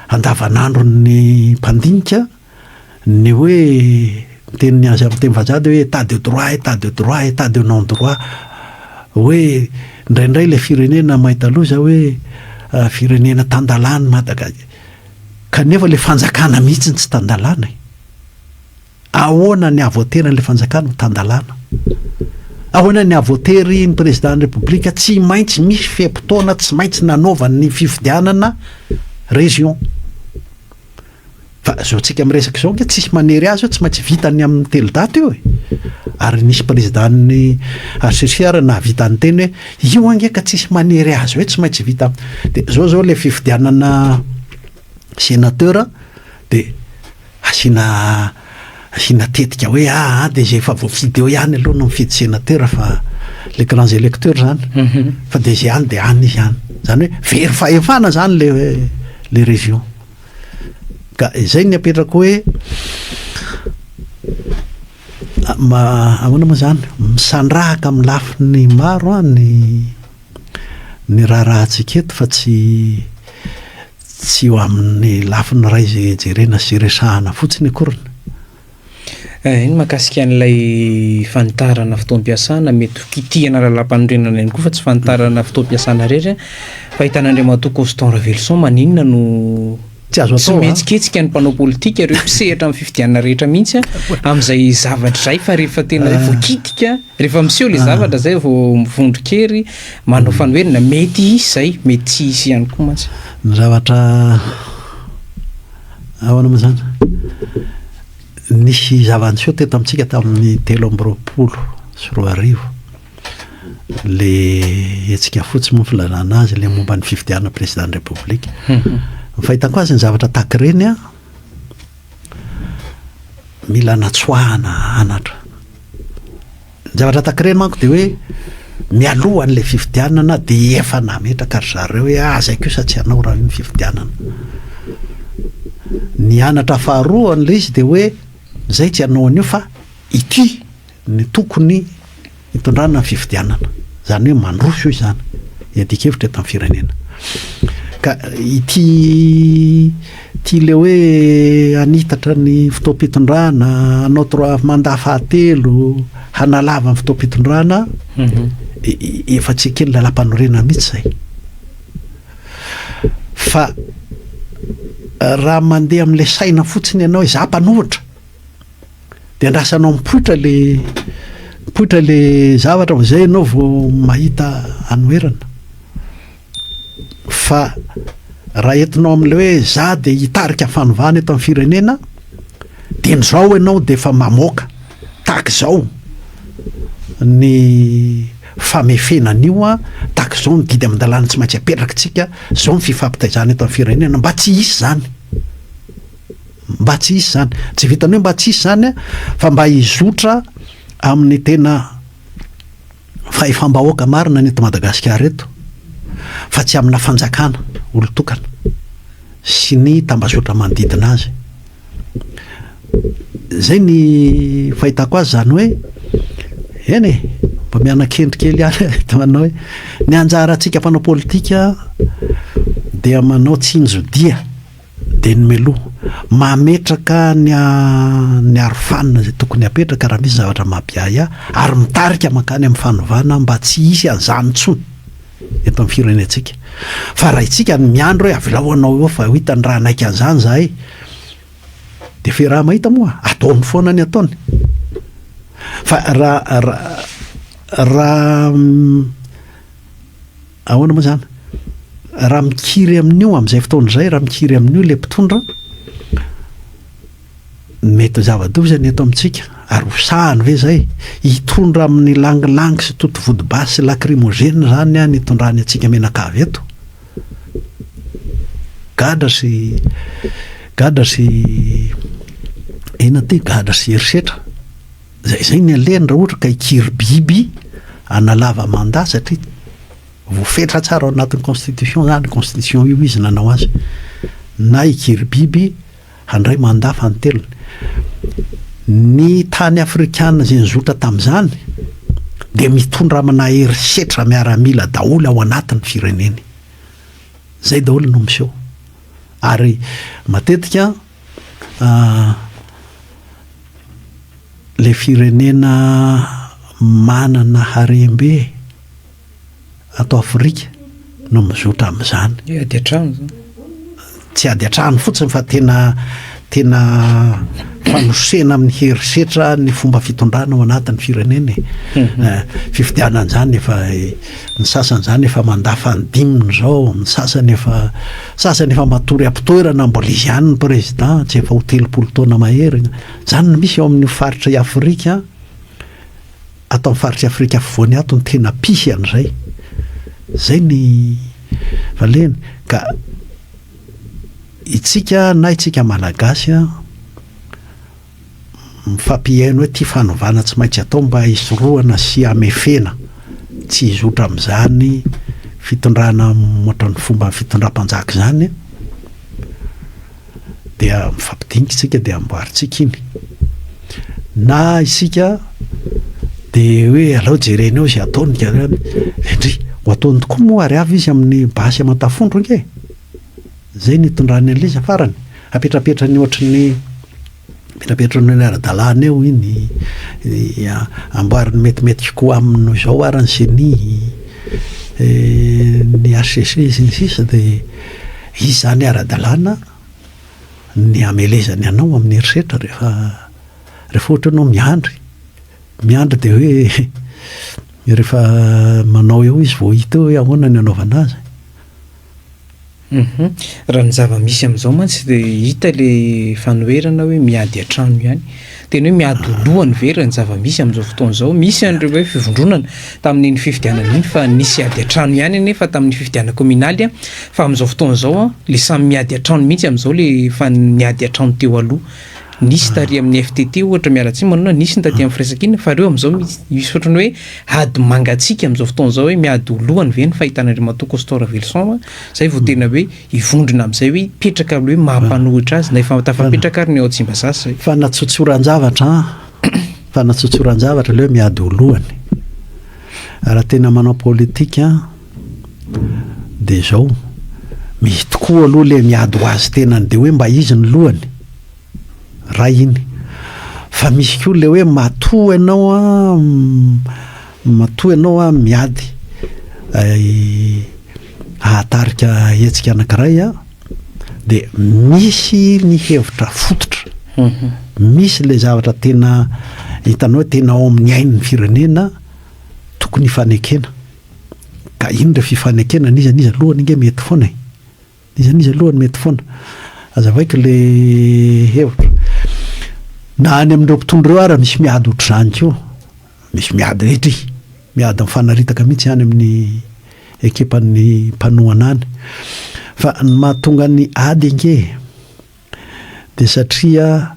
andavanandron'ny mpandinika ny hoe miteny ny azy amin'ny teny vazaha dia hoe état de droit, état de droit, état de non droit, hoe indraindray ilay firenena mahita loza hoe firenena tan-dalàna i Madagasika, kanefa ilay fanjakana mihitsy no tsy tan-dalàna e! Ahoana ny hahavoatery an'ilay fanjakana ho tan-dalàna? Ahoana ny hahavoatery ny président ny République tsy maintsy misy fe-potoana tsy maintsy nanaovany ny fifidianana région? Fa zao tsika miresaka zao nge tsisy manery azy eo tsy maintsy vita ny aminy telo daty io e! Ary nisy président ny HCC ary nahavita niteny hoe io ange ka tsisy manery azy hoe tsy maintsy vita de zao zao le fifidianana sénateur de asiana asiana tetika hoe aa de zay efa voafidy eo ihany aloha no mifidy sénateur fa le grands électeurs zany mhm. fa de zay any de any izy any zany hoe very fahefana zany le le région Ka izay ny apetrako hoe ahoana moa izany? Misandrahaka amin'ny lafiny maro ny ny raharahantsika eto fa tsy tsy eo amin'ny lafiny iray izay jerena sy resahana fotsiny akoriny. Eny, mahakasika an'ilay fanitarana fotoam-piasana, mety ho kitihana lalam-panorenana ihany koa fa tsy fanitarana fotoam-piasana irery. Fahitana Andriamatoa Coston Raveloson maninona no tsy azo atao. Tsy mihetsiketsika ny mpanao politika ireo mpisehatra amin'ny fifidianana rehetra mihitsy amin'izay zavatra izay fa rehefa tena ah. voakitika, rehefa miseho ilay ah. zavatra izay vao mivondron-kery manao fanoherana mety hisy izay, mety tsy hisy ihany koa mantsy. Ny zavatra Ahoana moa izany? Nisy zava-niseho teto amintsika tamin'ny telo amby roapolo sy roa arivo, le hetsika fotsy moa filazana azy, le momba ny fifidianana président république. Ny fahitako azy ny zavatra tahaka ireny an, mila natsoahana anatra. Ny zavatra takre manko dia hoe mialoha an'ilay fifidianana dia efa nametraka ry zareo hoe aza io kosa tsy hanao raha io ny fifidianana. Ny anatra faharoa an'ilay izy dia hoe izay tsy hanao an'io fa ity no tokony hitondrana ny fifidianana. Izany hoe mandroso izany ny adin-kevitra eto amin'ny firenena. Ka ity Tia ilay hoe hanitatra ny fotoam-pitondrana, hanao trois mandat fahatelo, hanalava ny fotoam-pitondrana aho. Efa tsy eken'ny Lalàmpanorenana mihitsy izay. Fa raha mandeha amin'ilay saina fotsiny ianao hoe izaho mpanohitra, dia andrasanao mipoitra ilay mipoitra ilay zavatra vao izay ianao vao mahita hanoherana. Fa raha entinao amin'ilay hoe za dia hitarika fanovana eto amin'ny firenena, dieny izao ianao dia efa mamoaka tahaka izao ny famefena an'io, tahaka izao ny didy amin-dalàna tsy maintsy apetrakintsika, izao ny fifampitaizana eto amin'ny firenena. Mba tsy hisy izany. Mba tsy hisy izany. Tsy vitan'ny hoe mba tsy hisy izany fa mba hizotra amin'ny tena Fahefam-bahoaka marina ny eto Madagasikara eto fa tsy amina fanjakana olon-tokana sy ny tambazotra manodidina azy. Izay ny fahitako azy izany hoe eny e, mba miana-kendry kely ihany eto manao hoe ny anjarantsika mpanao politika dia manao tsinjo-dia. Dia ny meloa. Mametraka ny ny arofanina izay tokony hapetraka raha misy zavatra mapiahiahy ary mitarika mankany amin'ny fanovana mba tsy hisy an'izany intsony eto amin'ny firenentsika. Fa raha isika no miandry hoe avelao hanao eo fa ho hitany raha hanaiky an'izany izahay dia fe raha mahita moa ataony foana ny ataony. Fa raha raha Ahoana moa izany? Raha mikiry amin'io, amin'izay fotoana izay, raha mikiry amin'io ilay mpitondra, mety ho zava-doza izany eto amintsika, ary ho sahany ve izay? Hitondra amin'ny langilangy sy totovodobasy sy lakrimozena izany an hitondrany antsika mianakavy eto? Gadra sy gadra sy inona ity? Gadra sy herisetra. Zay zay ny alehany raha ohatra ka hikiry biby hanalava mandat satria voafetra tsara ao anatin'ny constitution zany constitution io izy nanao azy na hikiry biby handray mandat fanintelony ny tany afrikana izay nizotra tamin'izany dia mitondra amina herisetra miaramila daholo ao anatin'ny fireneny zay daholo no miseho ary matetika Ilay firenena manana harem-be ato Afrika no mizotra amin'izany. Ny ady an-trano izany. Tsy ady an-trano fotsiny fa tena tena fanosena amin'ny herisetra ny fomba fitondrana ao anatin'ny firenena e. Mhm. Eh, fifidianana izany efa eh, ny sasany izany efa mandà fandimby izao, ny sasany efa Sasany efa matory am-pitoerana mbola izy ihany ny prezida, tsy efa ho telopolo taona mahery. Izany no misy ao amin'io faritra i Afrika, ato amin'ny faritr'i Afrika Afovoany ato no tena mpisy an'izay. Izay ny valeny. Ka itsika na itsika Malagasy Mifampihaino ity fanovana tsy maintsy atao mba hisorohana sy hamefena tsy hizotra amin'izany fitondrana ohatran'ny fomban'ny fitondram-panjaka izany dia mifampidinika isika dia amboarintsika iny. Na isika dia hoe alao jerena eo izay ataony izany. Endry, ho ataony tokoa moa ary avy izy amin'ny basy aman-tafondro ange e! Izay no itondrany an'ilay izy farany. Apetrapetrany ohatry ny apetrapetrany ohatry ny ara-dalàna eo iny, amboariny metimety kokoa aminy noho izao ary ny ceni, ny hcc sy ny sisa dia izy izany ara-dalàna ny hamelezany anao amin'ny herisetra rehefa rehefa ohatra ianao miandry, miandry dia hoe rehefa manao eo izy vao hita eo hoe ahoana ny hanaovana azy. Humm, raha ny zava-misy amin'izao mantsy dia hita ilay fanoherana hoe miady an-trano ihany. Tena hoe miady ho lohany ve raha ny zava-misy amin'izao fotoana izao? Misy an'ireo hoe fivondronana tamin'iny fifidianana iny fa nisy ady an-trano ihany anefa tamin'ny fifidianana kominaly fa amin'izao fotoana izao ilay samy miady an-trano mihitsy amin'izao ilay efa niady an-trano teo aloha. Nisy tary amin'ny FTT ohatra, miala tsiny Manona, nisy ny taty amin'ny firaisankina, fa ireo amin'izao mi- misy ohatran'ny hoe ady mangatsiaka amin'izao fotoana izao hoe miady ho lohany ve ny fahitan'Andriamatoa Costau Raveloson a, izay vao tena hoe hivondrona amin'izay hoe hipetraka aloha hoe maha mpanohitra azy na efa tafapetraka ary ny ao Tsimbazaza izay. Fanatsotsoran-javatra an! Fanatsotsoran-javatra aleo miady ho lohany. Raha tena manao politika an! dia izao, misy tokoa aloha ilay miady ho azy tenany dia hoe mba izy ny lohany, iray iny. Fa misy koa ilay hoe matoa ianao matoa ianao miady hahatarika hetsika anankiray aho dia misy ny hevitra fototra, mhm. misy ilay zavatra tena hitanao tena ao amin'ny ain'ny firenena tokony hifanekena. Ka inn re fifanekena n'iza n'iza lohany nge mety foana e! N'iza n'iza lohany mety foana! Azavaiko le hevitra. Na any amin'ireo mpitondra ireo ara misy miady ohatr'izany koa. Misy miady rehetra e! Miady mifanaritaka mihitsy any amin'ny ekipan'ny mpanohana any. Fa ny mahatonga ny ady ange e! dia satria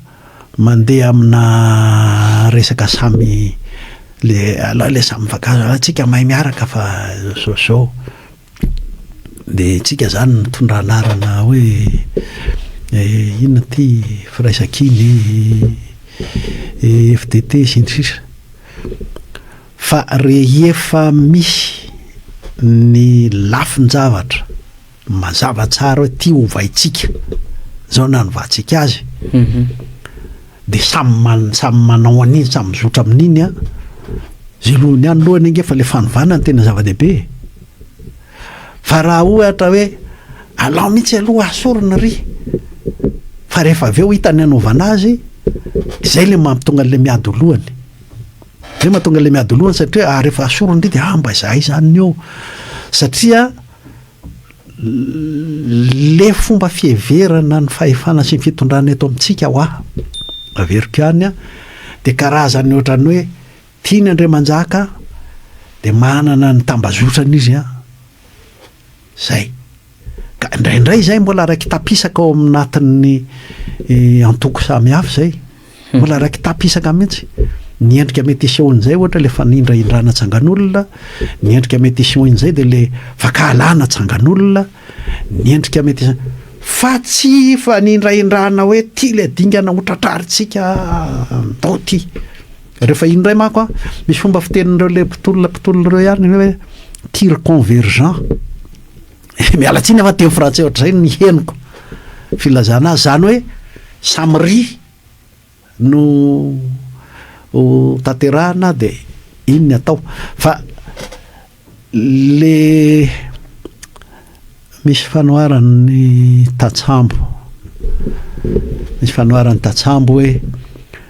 mandeha amina resaka samy ilay ilay samy mifankahazo, ah tsika mahay miaraka fa zao zao, dia tsika zany mitondra anarana hoe inona ty firaisankina e, FDT sy ny sisa, fa rehefa misy ny lafin-javatra. Mazava tsara hoe tia hovaintsika, izao no nanovatsika azy, dia samy man- samy manao an'iny, samy mizotra amin'iny an. Zelohiny ihany lohany ange fa ilay fanovana no tena zava-dehibe e. Fa raha ohatra hoe alao mihitsy aloha asorina ry, fa rehefa avy eo hita ny hanaovana azy, izay ilay mampitonga an'ilay miady ho lohany. Izay mahatonga ilay miady ho lohany satria rehefa asoriny ry dia ah mba izahay izany ny eo, satria. le fomba fiheverana ny fahefana sy ny fitondrana eto amintsika hoa averiko ihany a dia karazany ohatrany hoe tiany andriamanjaka dia manana ny tambazotrany izy a zay ka indraindray izay mbola raiki-tapisaka ao aminatin'ny eh, antoko samihafa izay Mbola raiki-tapisaka mihitsy. Ny endrika mety hisehon'izay ohatra ilay fanindrahindrana tsangan'olona, ny endrika mety hisehoan'izay dia ilay fankahalana tsangan'olona, ny endrika mety hise- fa tsy fanindrahindrana hoe ity ilay dingana hotratrarintsika andao ity. Rehefa iny indray manko an, misy fomba fitenin'ireo ilay mpitolona mpitolona ireo ihany ny hoe tir convergent. Miala tsiny aho fa teny frantsay ohatr'izay no henoko filazana azy, izany hoe samry no ho tanterahina dia iny ny atao fa le misy fanoharan'ny tatsambo misy fanoharan'ny tatsambo hoe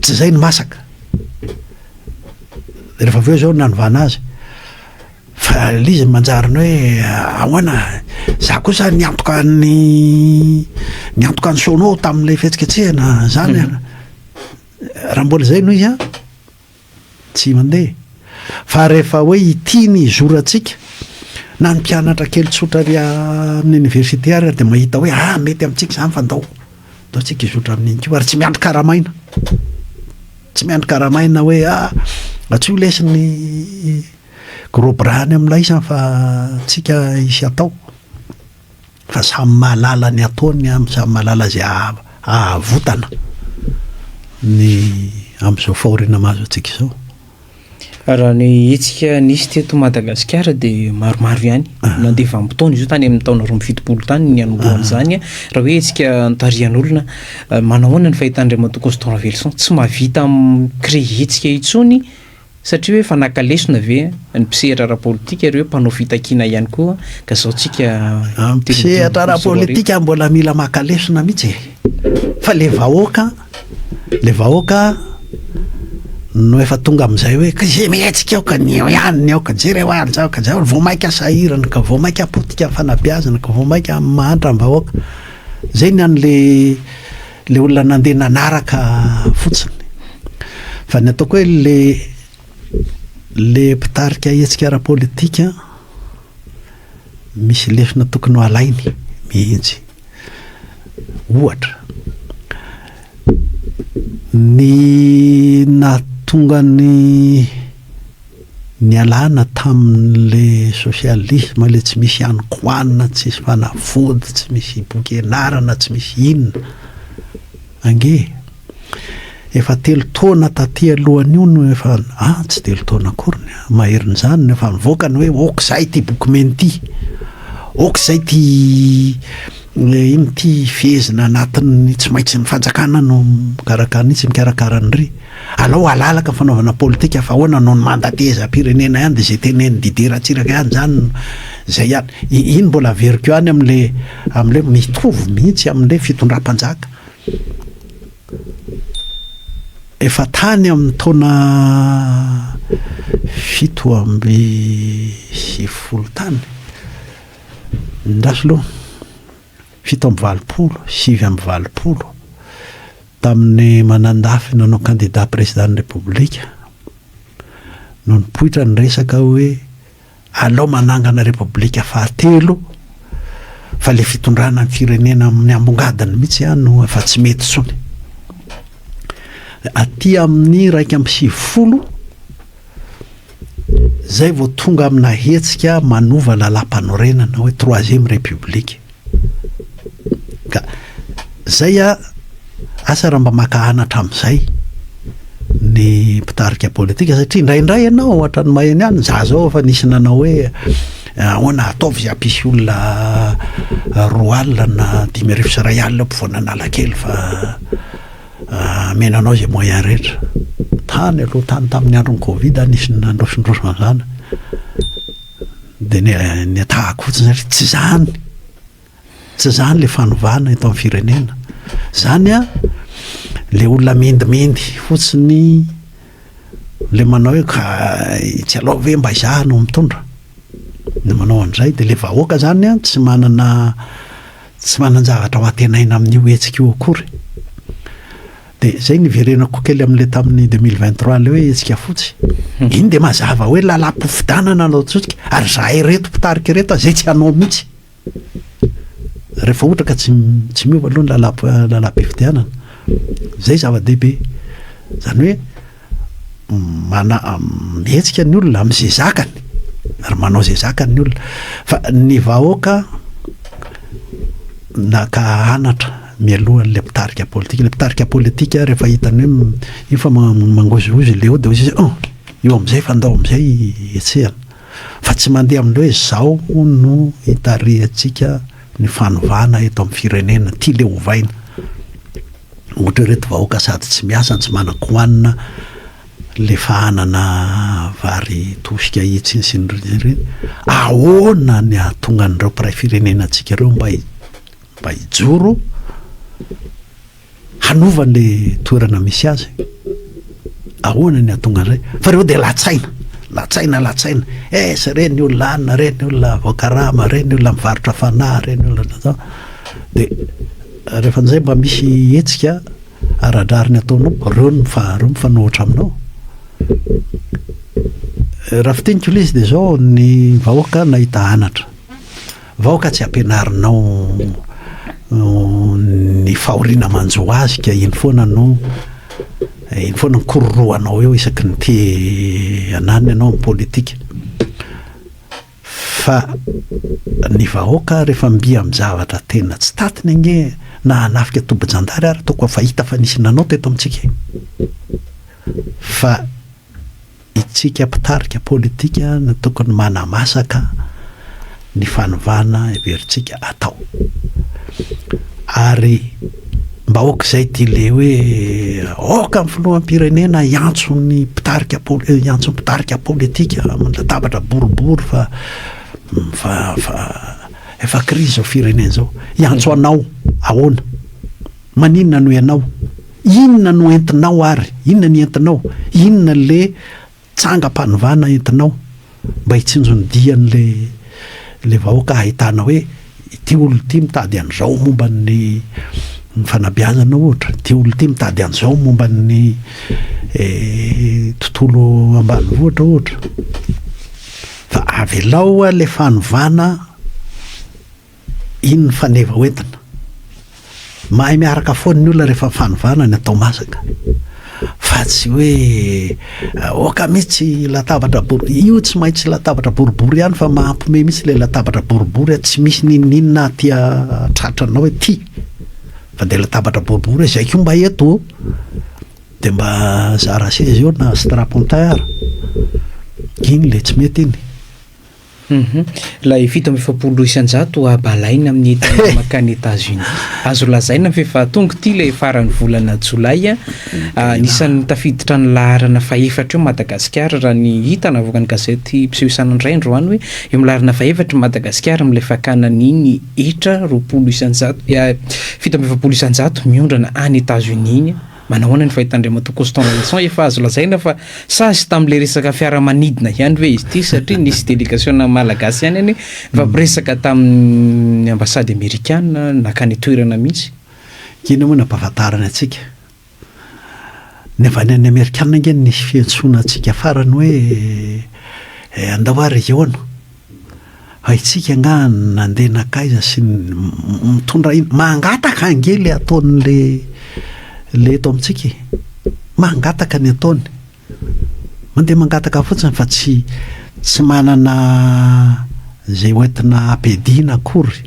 tsy zay no masaka rehefa avy eo zao nanovana azy fa le izy manjary ny hoe ahoana za kosa niantoka ny niantoka ny sono tamin'ilay fihetsiketsehana zany raha mbola zay no izy an Tsy mandeha. Fa rehefa hoe ity ny hizorantsika, na ny mpianatra kely tsotra ary amin'ny oniversite ary dia mahita hoe ah mety amintsika izany fa ndao, ndao tsika hizotra amin'iny koa ary tsy miandry karamaina, tsy miandry karamaina hoe ah antsoy lesy ny gros bras any amin'ilay izy fa tsika hisy atao. Fa samy mahalala ny ataony an, samy mahalala izay ahavotana ny amin'izao fahoriana mahazo antsika izao. Raha ny hetsika nisy teto Madagasikara dia maromaro ihany. Ah. Nandeha vanim-potoana izy io tany amin'ny taona roa amby fitopolo tany ny hanombohan'izany. Ah. Raha hoe hetsika nitarihan'olona, eh, manao ahoana ny fahitan'Andriamatoa Constant Ravelison? Tsy mahavita mi-créer hetsika intsony Satria hoe efa naka lesona ve ny mpisehatra ara-politika ireo mpanao fitakiana ihany koa ka zao tsika amin'ny telopolo ambin'ny folo sy roa arivo. Mpisehatra ara-politika mbola mila maka lesona mihitsy e! Fa le vahoaka, le vahoaka no efa tonga amin'izay hoe ka ze mihetsika aoka ny eo ihany ny aoka, jereo ary zao ka zao, vao maika sahirana ka vao maika potika fanabeazana ka vao maika mahantra ny vahoaka. Zay ny an'le. Ilay olona nandeha nanaraka fotsiny. Fa ny ataoko hoe ilay ilay mpitarika hetsika ara-politika misy lesona tokony ho alainy mihitsy. Ohatra, ny nahatonga ny Nialana tamin'le socialisme le tsy misy any koanina tsy misy fanafody tsy misy hibokenarana tsy misy inona ange e! Efa telo taona taty alohan'io no efa a tsy telo taona akory ny ahy maherin'izany no efa nivoaka ny hoe ok zay ty boky mena ty ok zay ty ino ty fehezina anatin'ny tsy maintsy ny fanjakana no mikarakara ny tsy mikarakara an'ry Alao halalaka fanaovana politika fa ahoana no ny mandat tehezam-pirenena ihany dia izay tenenin'i Didier Ratsiraka ihany izany no izay ihany. Iny mbola averiko ihany amin'ilay amin'ilay mitovy mihitsy amin'ilay fitondram-panjaka efa tany amin'ny taona fito amby sivifolo tany. Indrafy aloha. fito amby valopolo, sivy amby valopolo, tamin'ny manandafy nanao kandida prezidàn'ny Repoblika, no nipoitra ny resaka hoe alao manangana Repoblika fahatelo fa ilay fitondrana ny firenena amin'ny ambongadiny mihitsy ihany no efa tsy mety intsony. Aty amin'ny iraika amby sivifolo Zay vao tonga amina hetsika manova lalam-panorenana hoe troisième république. Ka zay a, asa raha mba maka anatra amin'izay ny mpitarika politika satria indraindray ianao ohatra ny maheno ihany za zao efa nisy nanao hoe ahoana ataovy izay hampisy olona roa alina na dimy arivo sy iray alina mpivoana Analakely fa Hameno anao izay moyen rehetra. Tany aloha tany tamin'ny andron'ny covid a nisy nandrosondroso an'izany dia ny ny atahako fotsiny hoe tsy izany, tsy izany ilay fanovana eto amin'ny firenena. Izany a ilay olona mendimendy fotsiny ilay manao hoe ka etsy aloha ve mba izaho no mitondra, ny manao an'izay dia ilay vahoaka izany a tsy manana Tsy manan-javatra ho antenaina amin'io hetsika io akory. Dia izay niverenako kely amin'ilay tamin'ny deux mille vingt trois ilay hoe hetsika fotsy. Hmm. Iny dia mazava hoe lalam-pifidianana no ataontsika ary izahay ireto mpitarika ireto izay tsy hanao mihitsy. Rehefa ohatra ka tsy tsy miova aloha ny lalam-pifidianana. Izay zava-dehibe. Izany hoe mana- mihetsika ny olona amin'izay zakany ary manao izay zakany ny olona fa ny vahoaka naka anatra mialoha an'ilay mpitarika politika ilay mpitarika politika rehefa hitany hoe m- io fa ma- mangozohozo ilay ody izy oh io amin'izay fa ndao amin'izay hetsehana fa tsy mandeha amin'ilay hoe zao no hitarihantsika ny fanovana eto amin'ny firenena ty le ovaina Ohatra ireto vahoaka sady tsy miasa no tsy manan-kohanina le efa hanana vary tosika hitsiny sy ny ireny. Ahoana ny hahatonga an'ireo mpiray firenena antsika ireo mba mba hijoro hanova le toerana misy azy? Ahoana ny hahatonga an'izay? Fa ireo dia latsaina, latsaina, latsaina. Esa re ny olona hanina, re ny olona voakarama, re ny olona mivarotra fanahy, re ny olona dia Rehefa an'izay mba misy hetsika ara-drariny ataonao, reo no mifanohitra aminao. Raha fitiniko ilay izy dia izao, ny vahoaka nahita anatra. Vahoaka tsy ampianarinao ny fahoriana manjo azy ka iny foana no, iny foana no kororohanao eo isaky ny te hananina ianao amin'ny politika. Fa ny vahoaka refa mby am zavatra tena tsy tatiny ange na hanafika tobijandary ary toko efa hita fa nisy nanao teto amitsika e! Fa itsika mpitarika politika no tokony manamasaka ny fanovana heveritsika atao. Ary. Mba aok'izay ity le hoe aoka ny filoham-pirenena hiantso ny mpitarika hiantso ny mpitarika politika amin'ny latabatra boribory fa fa fa efa krizy izao firenena izao. Hiantso anao ahoana? Maninona no ianao? Inona no entinao ary? Inona ny entinao? Inona le Tsangam-panovana entinao mba hitsinjon'ny dian'ilay ilay vahoaka ahitana hoe ity olona ity mitady an'izao momba ny fanabeazana ohatra, ity olona ity mitady an'izao momba ny tontolo ambanivohitra ohatra fa avelao ilay fanovana Iny ny faneva ho entina. Mahay miaraka foana ny olona rehefa fanovana ny atao masaka. Fa tsy hoe aoka mihitsy latabatra boribory. Io tsy maintsy latabatra boribory ihany fa mahampime mihitsy ilay latabatra boribory tsy misy n'inon'inona aty tratranao ety. Fa dia latabatra boribory hoe izay koa mba eto ô. Dia mba zara seza eo na strapontin ara. Iny ilay tsy mety iny. Humm. Ilay fito amby efapolo isan-jato abo alaina amin'ny entana mankany Etats-Unis. Azo lazaina fa efa tonga ity ilay faran'ny volana jolay. Anisan'ny tafiditra ny laharana fahefatra eo Madagasikara raha ny hita navoakan'ny gazety mpiseho isan'andro androany hoe eo amin'ny laharana fahefatra i Madagasikara amin'ilay fakana ny iny hetra roapolo isan-jato, fito amby efapolo isan-jato miondrana any Etats-Unis iny. Manahoana ny fahitan'Andriamatoa Constant Vincent, efa azo lazaina fa sazy tamin'ilay resaka fiaramanidina ihany ve izy ity satria nisy delegasiona malagasy ihany anie nifampiresaka tamin'ny ambasady amerikana nankany an-toerana mihitsy? Inona moa no ampahafantarany antsika? Ny avy any amin'ny amerikana ange no nisy fiantsoana antsika farany hoe andao ary hihaona. Haintsika angaha ny nandeha nankaiza sy ny mitondra inona? Mangataka ange ilay ataon'ilay ilay eto amintsika e! Mangataka ny ataony. Mandeha mangataka fotsiny fa tsy tsy manana izay hoentina hampiadiana akory.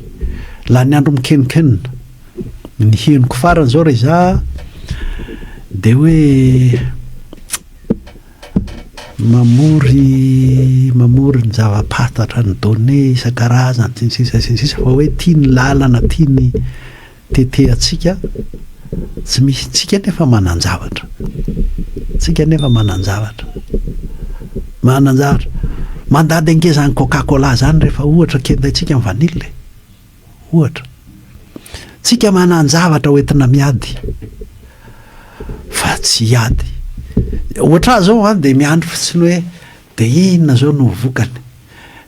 Lany andro mikeninkenina. Ny henoko farany izao raha izaho dia hoe mamory mamory ny zava-pahatatra ny données isan-karazany sy ny sisa sy ny sisa fa hoe tia ny lalana tia ny tetehantsika tsy misy tsika nefa manan-javatra tsika nefa manan-javatra manan-javatra mandady angezan'ny coca cola zany rehefa ohatra kendaintsika ny vanille e. Ohatra, tsika manan-javatra ho entina miady fa tsy hiady. Ohatra ahy izao an, dia miandry fotsiny hoe dia inona izao no ho vokany.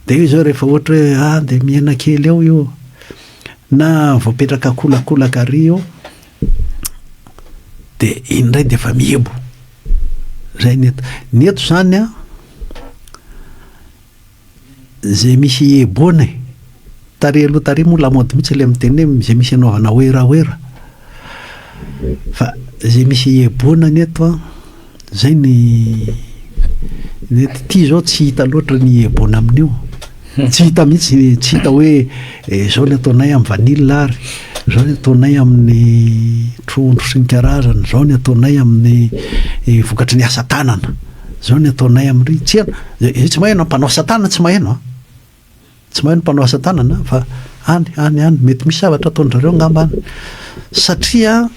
Dia eo izao rehefa ohatra hoe a, dia mihena kely eo io, na voapetraka kolakolaka ary io, dia iny indray dia efa mihebo. Izay ny eto. Ny eto izany an. Izay misy hieboana e! Tarehy aloha tarehy moa lamaody mihitsy ilay miteny hoe izay misy hanaovana hoera hoera. Fa izay misy hieboana ny eto an, izay ny ny eto. Ity izao tsy hita loatra ny hieboana amin'io. Tsy hita mihitsy ny, tsy hita hoe izao ny ataonay amin'ny vanille ary izao ny ataonay amin'ny trondro sy ny karazany, izao ny ataonay amin'ny vokatry ny asa tanana. Zao ny ataonay am ry tsy haino eh tsy mahaino an mpanao asa tanana tsy mahaino an tsy mahaino mpanao asa tanana fa any any any mety misy zavatra ataon drareo angamba any satria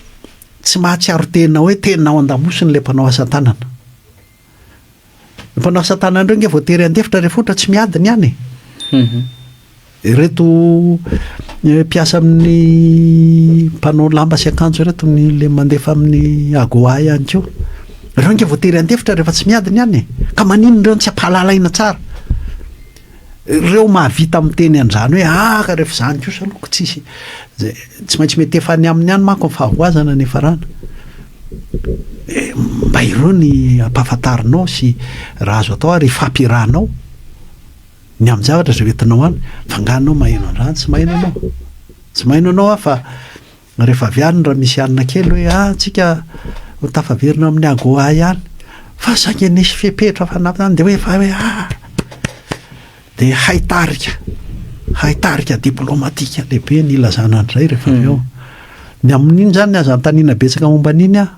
tsy mahatsiaro tena hoe tena ao andamosiny le mpanao asa tanana ny mpanao asa tanana reo nge voatery handefitra rehefa ohatra tsy miady ny any e Ireto mpiasa amin'ny mpanao lamba sy akanjo ireto ny le mandefa amin'ny AGOA ihany koa. Ireo ange voatery handefitra rehefa tsy miady ny any e. Ka maninona ireo no tsy ampahalalaina tsara? Ireo mahavita miteny an'izany hoe ah ka rehefa izany kosa aloha ka tsy hisy izay tsy maintsy mietefa any aminy any manko ny fahavoazana ny hiafarana. Mba ireo ny ampahafantarinao sy raha azo atao ary hifampirahanao. Ny amin'ny zavatra izay hoentinao any fa angaha anao maheno an'izany? Tsy maheno ianao. Tsy maheno ianao an fa rehefa avy any raha misy alina kely hoe ah antsika ho tafaverina amin'ny AGOA ihany fa saingy nisy fepetra fanampiny any dia hoe efa hoe ah dia hay tarika hay tarika diplomatika lehibe ny ilazana an'izay rehefa avy eo. Ny amin'iny izany aza anontaniana betsaka momba an'iny aho.